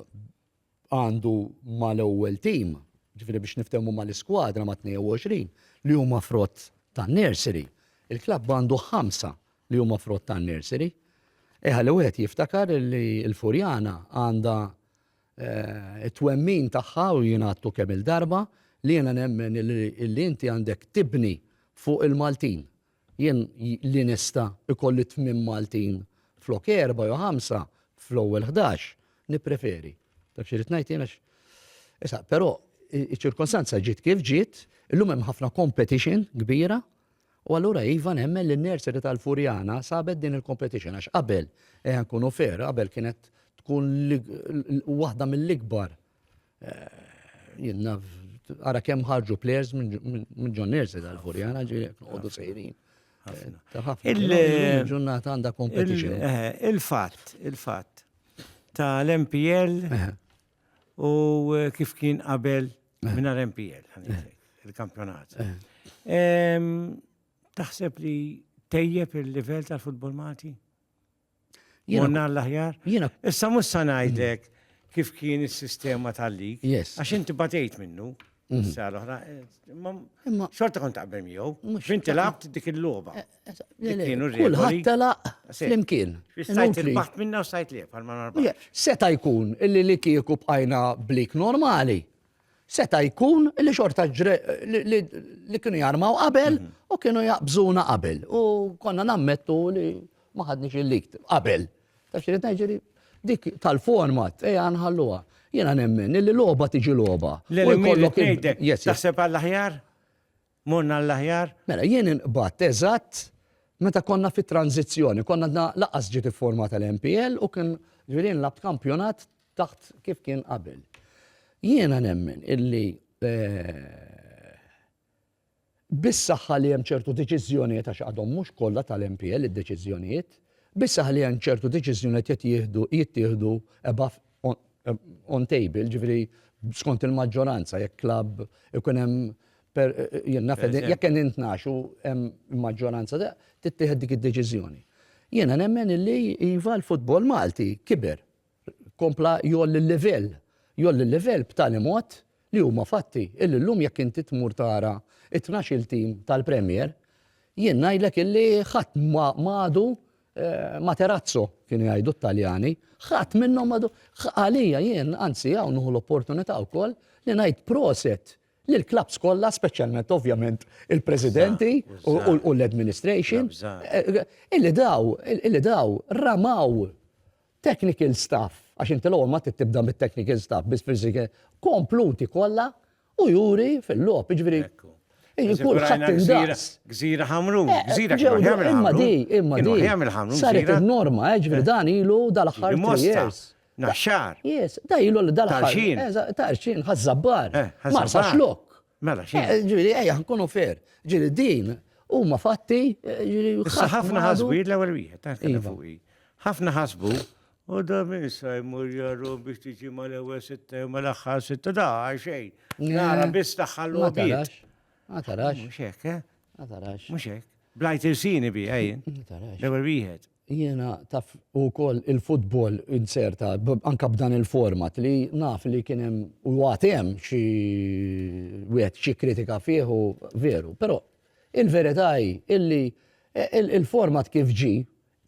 għandu mal-ewwel tim, ġifieri biex niftehmu mal-iskwadra ma' 22 li huma frott tan-nursery. Il-klabb għandu ħamsa li huma frott tan-nursery. Eħa li wieħed jiftakar li l-Furjana għandha it-twemmin tagħha u jien għadtu kemm-il darba li jiena nemmen li inti għandek tibni fuq il-Maltin. Jien li nista' ikolli tmien Maltin flok erba' jew ħamsa fl-ewwel ħdax, nippreferi. Taf x'irid ngħid jien għax. Issa, però iċ-ċirkostanza ġiet kif ġiet, illum hemm ħafna competition kbira U allura iva nemmen li n-nursery tal-Furjana sabet din il-competition għax qabel ejja nkunu fair, qabel kienet tkun waħda mill-ikbar eh, ara kemm ħarġu players minn ġon nursery tal-Furjana ġi noqogħdu sejrin. Il-ġurnata għandha competition. Eh, il-fatt, il-fatt ta' l-MPL eh. u eh, kif kien qabel eh. minar MPL, eh. il-kampjonat. Taħseb li tejjeb il-level tal-futbol Malti? Jonna l-aħjar? Issa mus sanajdek kif kien il-sistema tal-lig. Yes. Għax inti batejt minnu. Mm. Sar oħra. Imma xorta kont taqbel miegħu. X'inti labt dik il-logħba. Eh, eh, kienu Kulħadd telaq flimkien. Sajt il-baħt minna u sajt li bħal ma narbax. Seta jkun illi li kieku bqajna blik normali. Seta jkun illi xorta li kienu jarmaw qabel mhm. u kienu jaqbżuna qabel. U konna nammettu li ma ħadniex il-likt qabel. Taf xi ngħid dik tal-format, ejja nħalluha. Jiena nemmen li logħba tiġi logħba. L-kollok ngħidlek, taħseb għall-aħjar? Morna għall-aħjar? Mela jien inqbad eżatt meta konna fit tranzizzjoni konna dna laqas ġiet formata l-MPL u kien ġirin lab kampjonat taħt kif kien qabel. Jiena nemmen illi eh, bis-saħħa li hemm ċertu deċiżjonijiet, għax għadhom mhux kollha tal-MPL id-deċiżjonijiet, bis-saħħa li hemm ċertu deċiżjonijiet qed jieħdu, jittieħdu above, on table, ġifieri skont il-maġġoranza, jekk klabb ikun hemm per, jien naf jekk hemm intnax u hemm maġġoranza tittieħed dik id-deċiżjoni. Jiena nemmen illi iva l-futbol Malti kiber. kompla jgħolli l-livell. Jgħolli l-livell b'tali mod li huma fatti illi llum jekk inti tmur tara t-tnax-il tim tal-Premier, jien ngħidlek illi ħadd ma għadu Materazzo, kienu jgħidu t-Taljani, ħadd minnhom ma għadu. Għalija jien, anzi hawn nieħu l-opportunità wkoll li ngħid proset lill-klabbs kollha, speċjalment ovvjament il-presidenti u l-administration, illi daw, illi daw ramaw Technical staff, għax inti l-ewwel ma trid tibda mit-technical staff biss fil-sikke, kompluti kollha u juri fil-logħob, jiġifieri hi kulħadd indaqs. Gżira Ħamrun, gżira kieku jagħmel Ħamrun. Imma di, imma di. Kieku jagħmel Ħamrun. Saret in-norma, jiġifieri dan ilu dal-aħħar three years. Naxxar. Yes, da ilu dal-aħħar. Tarxien. Tarxien, Ħaż-Żabbar. Marsaxlokk. Mela, xi. Eh, ġiri, ejja, nkunu fair. Ġiri, din, huma fatti, eh, ġiri, ħafna ħasbu, l-ewwel wieħed, eh, iva. ħafna ħasbu, u da minn sa jmur jarru biex tiġi ma l-ewwel sitta ma l-aħħar sitta da xejn. Nara biss taħħallu biet. Ma tarax. Mhux hekk, eh? Ma tarax. Mhux hekk. Blajt irsini bi, ejjen. L-ewwel wieħed. Jiena taf u wkoll il-futbol inzerta anke b'dan il-format li naf li kien hemm u għad hemm xi wieħed xi kritika fih u veru. Però il-verità hi illi il-format kif ġie,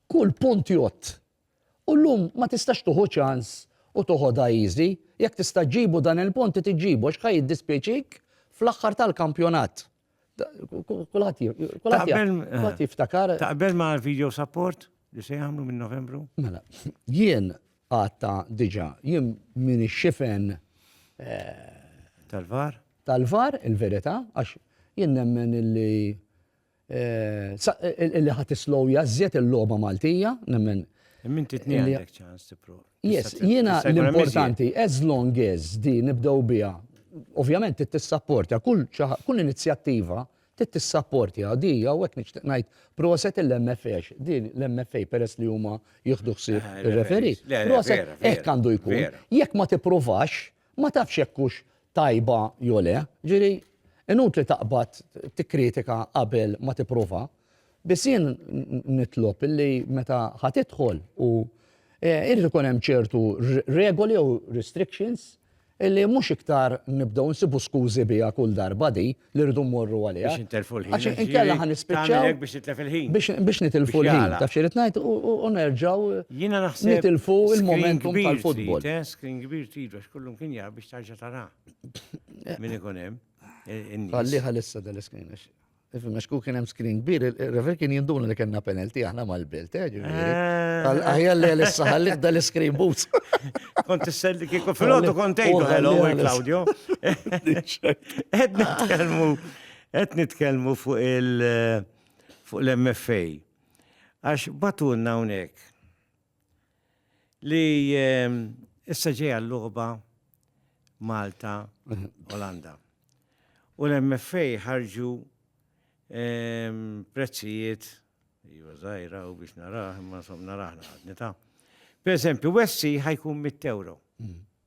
kull punt jgħodd. U llum ma tistax tieħu ċans u toħodha easy. Jekk tista' ġġibu dan il-punt trid iġġibu għax ħa jiddispjaċik fl-aħħar tal-kampjonat. Kulħadd jiftakar. Taqbel ma' video support li se jagħmlu minn Novembru? Mela, jien għatta diġa, jien minn xifen eh, tal-var. Tal-var, il-verità, għax jien nemmen illi eh, illi ħat islow jazzjet il-loba Maltija, nemmen. Minn titni għandek ċans tipprova. Yes, jiena l-importanti, as long as di nibdew biha, ovvjament tissapporta kull kull inizjattiva tissapportja di u hekk nixtieq ngħid proset il-MFA di l-MFA peress li huma jieħdu ħsieb eh, ir-referi. Proset hekk għandu jkun. Jekk ma tippruvax, Ma tafx jekk hux tajba jew le. Jiġifieri inutli taqbad tikkritika qabel ma tipprova. Biss jien nitlob illi meta ħa tidħol u irid ikun hemm ċertu regoli jew restrictions illi mhux iktar nibdew insibu skużi biha kull darba di li rridu mmorru għaliha. Biex intelfu l-ħin. Għax inkella ħan nispiċċaw. Biex nitlef il-ħin. Biex nitilfu l-ħin. Taf xirrit ngħid u nerġgħu nitilfu il-momentum tal-futbol. Eh, screen kbir trid għax kullum kien jar biex tarġa' tara. Eh. Min ikun hemm. Eh, Għalli ħalissa dal-iskrin. Għax ku kien hemm screen kbir, il-refer kien jinduna li kellna penalti aħna mal-bilt, eh, Għal aħjar li għalissa ħallik dal-iskrin boots. Kont s-selli kieku fil-għodu kontejtu, hello, Claudio. Qed nitkellmu qed nitkellmu fuq il fuq l-MFA. Għax batunna hawnhekk li ehm, issa ġejja l-logħba Malta Olanda. U l-MFA ħarġu ehm, prezzijiet jiva żgħira u biex naraħ, imma som naraħ naqadni ta'. Per eżempju, Wessi ħajkun 100 euro. Mm.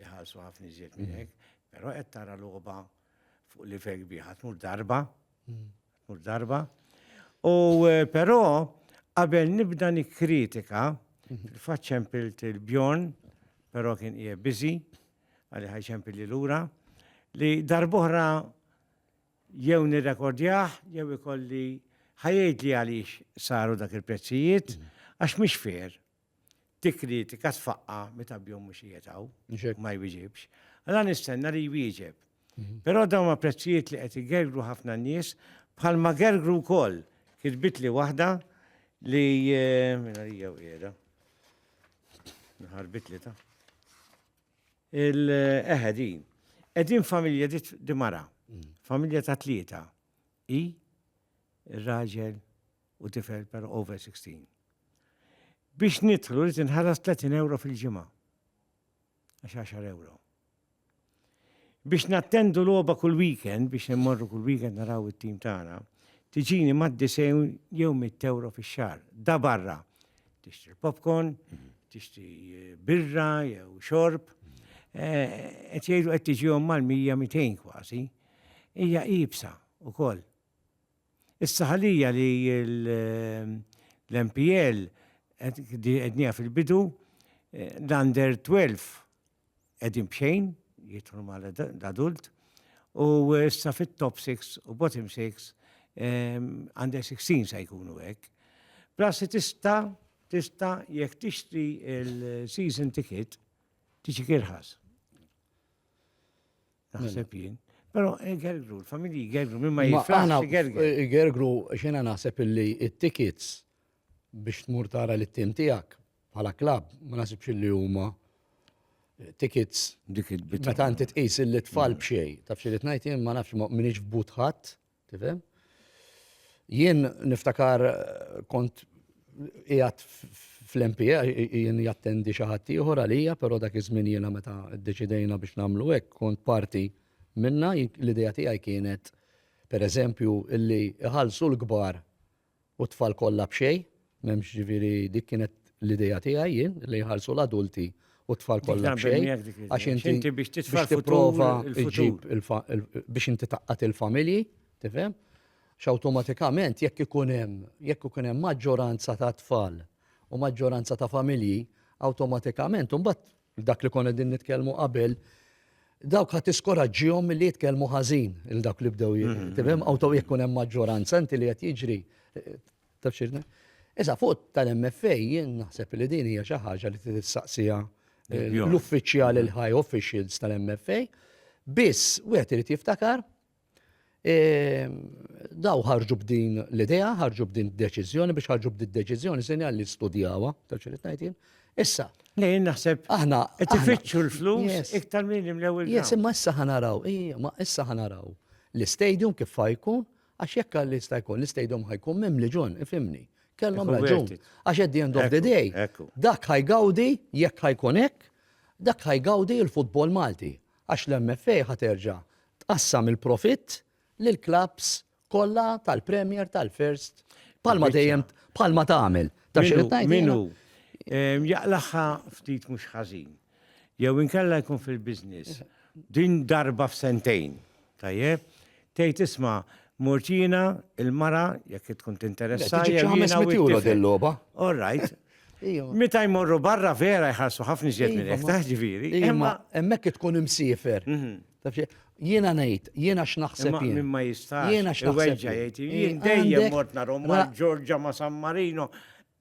iħallsu ħafna iżjed minn hekk, però qed tara logħba fuq livell kbir, ħadd mur darba, mur darba. U eh, però qabel nibda nikkritika, fil-fatt ċempilt il-Bjorn, però kien qiegħed biżi, għalli ħajċempil li lura, li darbohra jew nirrekordjah, jew ikolli ħajejd li għaliex saru dak il-prezzijiet, għax mhix fair, tikkritika tfaqqa meta bjom mhux qiegħed hawn ma jwieġibx. Alla nistenna li jwieġeb. Mhm. Però dawn ma prezzijiet li qed igergru ħafna nies bħal ma gergru wkoll kitbit li waħda li eh, minna li jew qiegħda. Nħarbit li ta' il-eħedin. Eh, Edin familja di mara, mhm. familja ta' tlieta, i, raġel, u tifel per over 16. Biex nidħlu rrid inħallas 30 euro fil-ġimgħa. Għax 10 euro. Biex nattendu logħba kull weekend, biex immorru kull weekend naraw it-tim tagħna, tiġini mad disejn jew mit euro fix-xahar. Da barra. Tixtri popcorn, mhm. tixtri eh, birra jew xorb. Eh, qed jgħidu qed tiġihom mal-100 200 kważi. Hija ibsa ukoll. Issa ħalija li l-MPL qedniha fil-bidu, l-under 12 qegħdin b'xejn, jidħlu ma' l-adult, u issa fit-top 6 u bottom 6 under 16 se jkunu hekk. Plus li tista' tista' jekk tixtri l-season ticket tiġik irħas. Naħseb mela. jien. Pero igergru, l-familji igergru, minn ma jifraħx igergru. Igergru, xena naħseb illi it-tickets biex tmur tara li t-tim tijak bħala klab, ma naħsibx illi huma eh, tickets. Dik il-bit. Meta inti tqis illi tfal mm. bxej, taf xi li tnajt jien ma nafx minix f'butħat, Tifhem? Jien niftakar kont qiegħed fl-MPA jien jattendi xi ħadd ieħor għalija, però dak iż-żmien jiena meta ddeċidejna biex nagħmlu hekk kont parti minna l-idea tiegħi kienet pereżempju illi iħallsu l-kbar u t-tfal kollha b'xejn, m'hemmx ġifieri dik kienet l-idea tiegħi jien li jħallsu l-adulti u t-tfal kollha b'xejn. Għax inti biex tipprova ġġib biex inti taqqat il-familji, tifhem? X'awtomatikament jekk ikun hemm jekk ikun hemm maġġoranza ta' tfal u maġġoranza ta' familji, awtomatikament imbagħad Dak li konna din nitkellmu qabel, dawk ħadd tiskoraġġihom milli jitkellmu ħażin il dawk li bdew mm-hmm. tifhem awtow jekk hemm maġġoranza inti li qed jiġri taf xirna. Issa fuq tal-MFA jien naħseb li din hija xi ħaġa li tistaqsija l-uffiċjal il-high officials tal-MFA biss wieħed irid jiftakar Daw ħarġu b'din l-idea, ħarġu b'din deċiżjoni biex ħarġu b'din deċiżjoni sinjal li studjawa, ta' ċirit ngħidin. Issa. Lejn naħseb. Aħna. Tifittxu l-flus iktar minn imlewil. Yes, imma issa ħanaraw, imma issa ħanaraw. L-istadium kif fajkun, għax jekk għalli sta jkun, l-istadium ħajkun mem li ġun, ifimni. Kellhom raġun. Għax at the end of the day, dak ħajgawdi, jekk ħajkun hekk, dak ħajgawdi l-futbol Malti. Għax l-MFA ħaterġa' Tqassam il-profitt lill-klabbs kollha tal-Premier, tal-First, bħalma dejjem bħalma tagħmel. Ta' xi tajt. Minu jaqlaħħa ftit mhux ħażin. Jew inkella jkun fil-business. Din darba f'sentejn. Tajjeb, tgħid isma' mortina il-mara jekk tkun tinteressa. Ġiġi 500 euro dil-logħba. All right. Meta jmorru barra vera jħarsu ħafna iżjed minn hekk taħġifieri. Imma hemmhekk tkun imsiefer. Taf xi- Jiena ngħid, jiena x'naħseb Imma jien. min ma jistax. Jiena x'naħseb iweġġa' jien. jgħid, Jien Jien dejjem għandek- mort nagħhom ra- ma' Ġorġa ma' San Marino.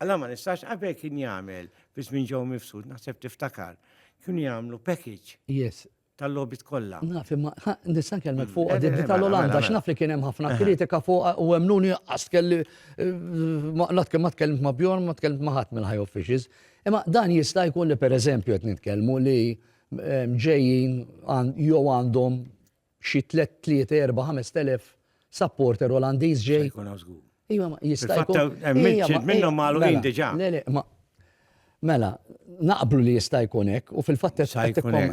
Alla ma nistax qabel kien jagħmel biss minn ġew mifsud, naħseb tiftakar. Kienu jagħmlu package Yes. tal-logħbiet kollha. Naf imma ha, nista' nkellmek Mm, fuq eh, di eh, mela, tal-Olanda mela, x'naf li kien hemm ħafna Aha. kritika fuq u hemm nuni qas kelli eh, ma la tkellim- ma tkellimt ma' Bjorn, ma tkellimt ma' ħadd mill-high officials. Imma dan jista' jkun li pereżempju qed nitkellmu li ġejjin jew għandhom xi tlett, tliet, erba', ħamest elef supporter Olandiż ġej. Jkun hawn żgur. Iva, ma jista' jkun. Hemm minnhom magħluqin diġà. Le, le, ma Mela, naqblu li jista' jkun hekk u fil-fatt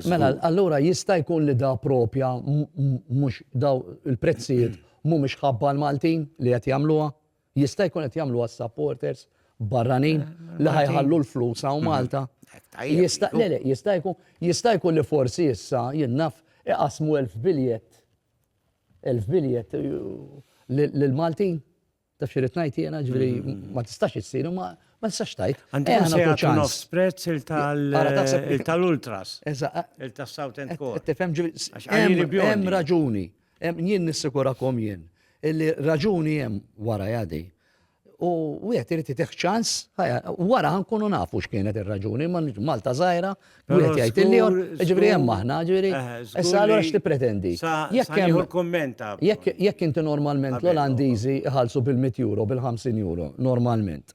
mela allura jista' jkun li da propja mhux daw il-prezzijiet mhumiex ħabba l-Maltin li qed jagħmluha. Jista' jkun qed jagħmluha s-supporters barranin li ħa jħallu l-flus hawn Malta. Jista' jkun li forsi issa, jien naf, iqassmu elf biljett, elf biljett lill-Maltin. Taf xi rrid ngħid jiena, ġifieri ma tistax issir, ma tistax tgħid. Għandhom se jagħtu nofs prezz il-tal-ultras. Il-tas-South End Core. Tifhem ġifieri. Hemm raġuni. Jien nissikurakom jien illi raġuni hemm warajha di. U wieħed irid itih ċans, wara nkunu nafu x'kienet ir-raġuni, ma Malta żgħira, wieħed jgħid il-lijon, ġifieri hemm aħna, ġifieri. Issa allura x'tippretendi? Jekk hemm jekk inti normalment l-Olandiżi iħallsu bil-100 euro, bil-50 euro, normalment.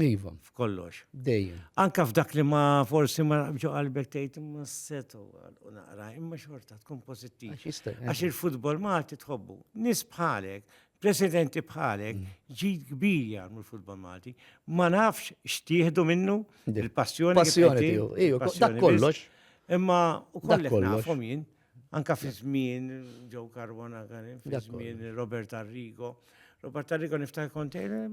Iva. F'kollox. Dejjem. Anka f'dak li ma forsi ma ġo qalbek tgħid ma setu u naqra, imma xorta tkun pożittiv. Għax il-futbol Malti tħobbu. Nis bħalek, presidenti bħalek, mm. ġid kbir jagħmlu l-futbol Malti. Ma nafx x'tieħdu minnu il-passjoni. Passjoni tiegħu. Iju, dak kollox. Imma u kollek nafhom jien. Anka fi żmien ġew Karwana, fi żmien Robert Arrigo. Robert Arrigo niftakar kontejn,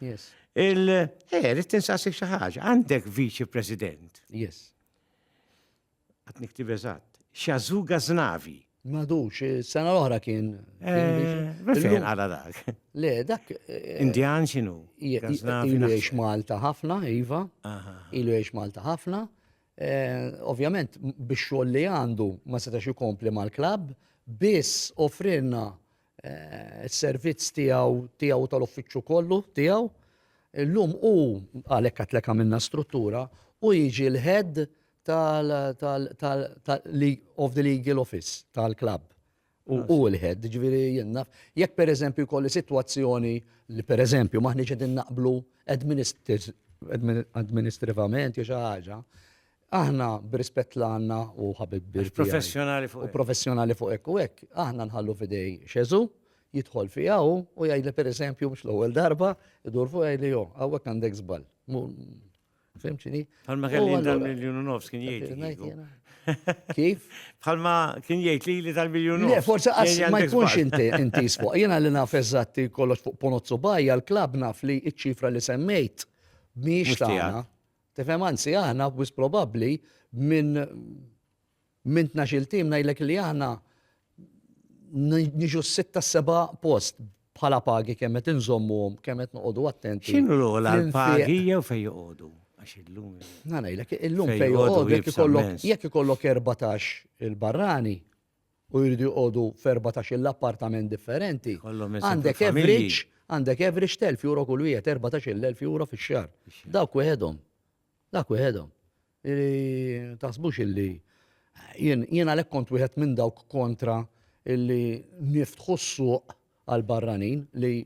Yes. Il, eh, rrit tinsassik xi ħaġa, għandek viċi president. Yes. Għat niktib eżatt. Xazuga Znavi. Madux, sena l-oħra kien. Eh, Fejn għala dak. Le, dak. Eh, Indjan xinu? Ilu jiex Malta ħafna, Iva. Ilu jiex Malta ħafna. Eh, ovvjament, biex xogħol li għandu ma setax ikompli mal-klab, biss offrinna s-servizz tiegħu tiegħu u tal-uffiċċju kollu tiegħu. Illum hu għalhekk għatlek għamilna struttura u jiġi l-head of the legal office tal-klabb. U l-head, ġviri jenna. Jekk per eżempju kolli situazzjoni li per eżempju maħni ġedin naqblu administrativament jew xi ħaġa, Aħna, b'rispett l-għandna u ħabib bir tiegħi u professjonali fuq hekk u hekk, aħna nħallu f'idej Xesù, jidħol fija hu u jgħidli pereżempju mhux l-ewwel darba, idur fuq jgħidli jo, hawnhekk għandek żball. Fim x'inhi? Bħalma kelli dan miljun u nofs kien jgħid. Kif? Bħalma kien jgħid li li tal-miljun nofs. Forse għas ma jkunx inti inti fuq. Jiena li naf eżatti kollox fuq ponozzu bajja l-klab naf li iċ-ċifra li semmejt mhix tagħna. Tifhem, anzi aħna wisq probabbli minn minn tnax-il tim ngħidlek li aħna niġu s-sitta s-seba' post bħala pagi kemm qed inżommuhom, kemm qed noqogħdu attenti. X'inhu l-ogħla l-pagi jew fejn joqogħdu? Għax illum. Ngħidlek, illum fejn joqogħdu jekk ikollok 14 il-barrani, u jridu joqogħdu f'erbatax-il appartament differenti, Ikollhom isem għandek fil-familji. average għandek average t'elf euro kull wieħed, erbatax-il elf euro fix-xahar. Fix-xahar. Dawk wieħedhom. Dak wieħedhom. Li taħsbux illi jien jien għalhekk kont wieħed minn dawk kontra illi niftħu s-suq għal barranin li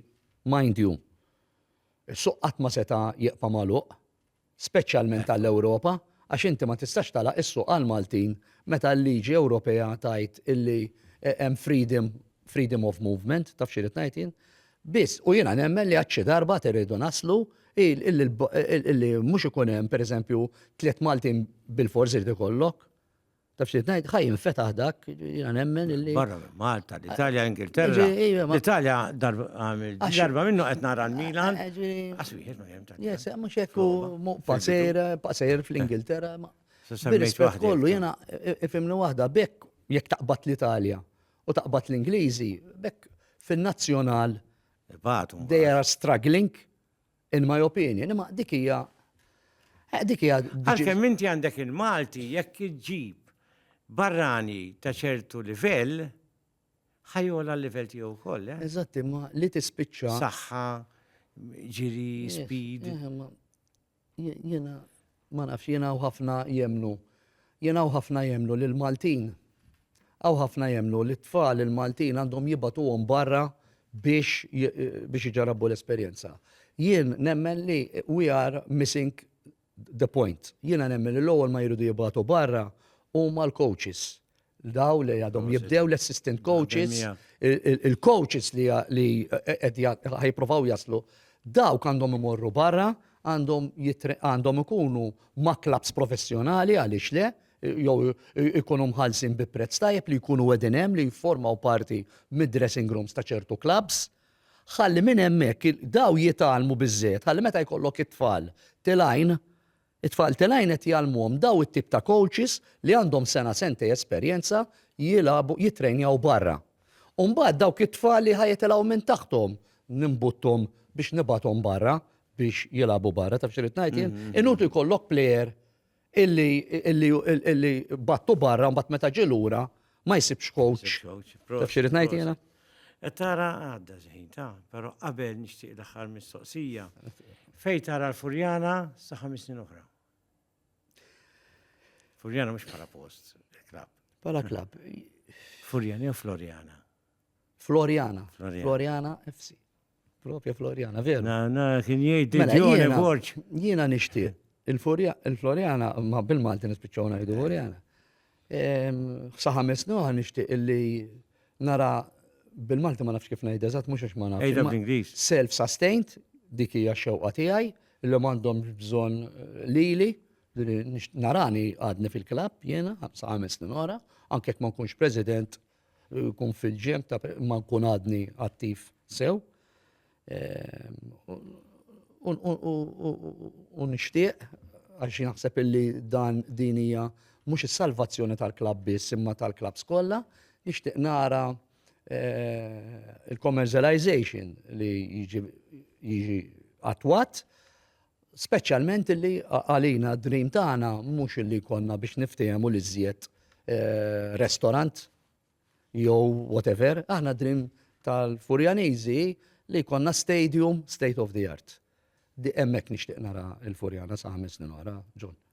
mind you. Is-suq qatt ma seta' jibqa' magħluq. speċjalment għall-Ewropa, għax inti ma tistax tagħlaq is-suq għall-Maltin meta l-liġi Ewropea tgħid illi hemm freedom freedom of movement, taf x'irrid ngħid jien? Biss, u jiena nemmen li għad xi darba għad irridu naslu illi mhux ikun hemm, pereżempju, tliet Maltin bilfors irid ikollok. Taf xi ngħid, ħaj infetaħ dak, jiena nemmen illi. Barra minn Malta, l-Italja, Ingilterra. L-Italja darba minnu qed nara l-Milan. Aswieħed ma hemm ta' Yes, mhux hekk paser, paser fl-Ingilterra. Bil-rispett kollu jiena ifimni waħda bekk jekk taqbad l-Italja u taqbad l-Ingliżi, bekk fin-nazzjonal. They are struggling. In my opinion, imma dik hija eh, dik hija Għalkemm inti għandek il-Malti jekk iġġib barrani ta' ċertu livell, ħajola l-livell tiegħu wkoll. Eh? Eżatt, imma li tispiċċa. Saħħa, ġiri, eh, speed. Jena. Ma nafx, jien hawn ħafna jemmnu, jien hawn ħafna jemmnu li l-Maltin, hawn ħafna jemmnu li t-tfal il-Maltin għandhom jibgħatuhom barra biex biex iġarrabu l-esperjenza. Jien nemmen li we are missing the point. Jiena nemmen li l-ewwel ma jridu jibgħatu barra huma l-coaches. l-daw li għadhom jibdew l-assistant coaches, il-coaches li ħajprovaw jaslu, dawk għandhom imorru barra, għandhom ikunu ma' klabs professjonali għaliex le, jew ikunu mħallsin bi prezz tajjeb li jkunu qegħdin hemm li jifformaw parti mid-dressing rooms ta' ċertu klabs. Ħalli minn hemmhekk daw jitgħallmu biżżejjed, ħalli meta jkollok it-tfal tilajn It-tfal t'Elaine qed jgħallmuhom daw it-tip ta' kowċis li għandhom sena sentej esperjenza jilagħbu jittrejnjaw barra. U mbagħad dawk it-tfal li ħa jitilgħu minn taħthom nimbutthom biex nibgħathom barra biex jilagħbu barra. Taf x'irrid ngħid jien? Inutli jkollok plejer illi illi illi bgħattu barra u mbagħad meta ġie lura Ma jsibx coach. Taf xirrit ngħid jiena? E tara għadda ġejn ta' però qabel nixtieq l-aħħar mistoqsija. Fej tara l-Furjana sa' ħames snin oħra. Furjana mhux bħala post, klab. Bħala klab. Furjana jew Florjana? Florjana. Florjana FC. Propja Floriana, veru. Na, na, kien jgħid mela, Diġone Borġ. Jiena nixtieq. Il-Floriana, ma bil-Malti nispiċċaw ngħidu Floriana. Sa ħames noħa nixtieq illi nara bil-Malti ma nafx kif ngħid eżatt mhux għax ma nafx. Self-sustained, dik hija xewqa tiegħi, illi m'għandhom bżonn eh, lili narani għadni fil-klab jena, sa' għames ora, anke ma nkunx president Jkun fil-ġemp ta' ma nkun għadni attiv sew. U nixtieq għax naħseb illi dan din hija mhux is-salvazzjoni tal-klabb biss imma tal-klabbs kollha, nixtieq nara il-commercialization li jiġi attwat Speċjalment illi għalina d-dream tagħna mhux illi jkollna biex niftehmu li żjed eh, restorant jew whatever, aħna dream tal-Furjaniżi li jkollna stadium state of the art. Di hemmhekk nixtieq nara l-Furjana sa' ħames snin oħra, John.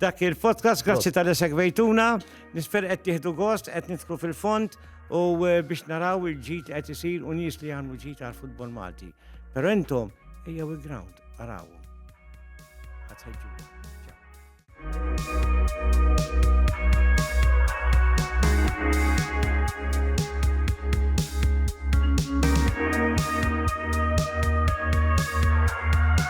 Dak il-podcast, grazzi tal segwejtuna, nisper qed tieħdu gost, qed nidħlu fil-fond u eh, biex naraw il-ġit qed isir u nies li għandu ġit għal futbol Malti. Però intom ejjew il-ground, araw.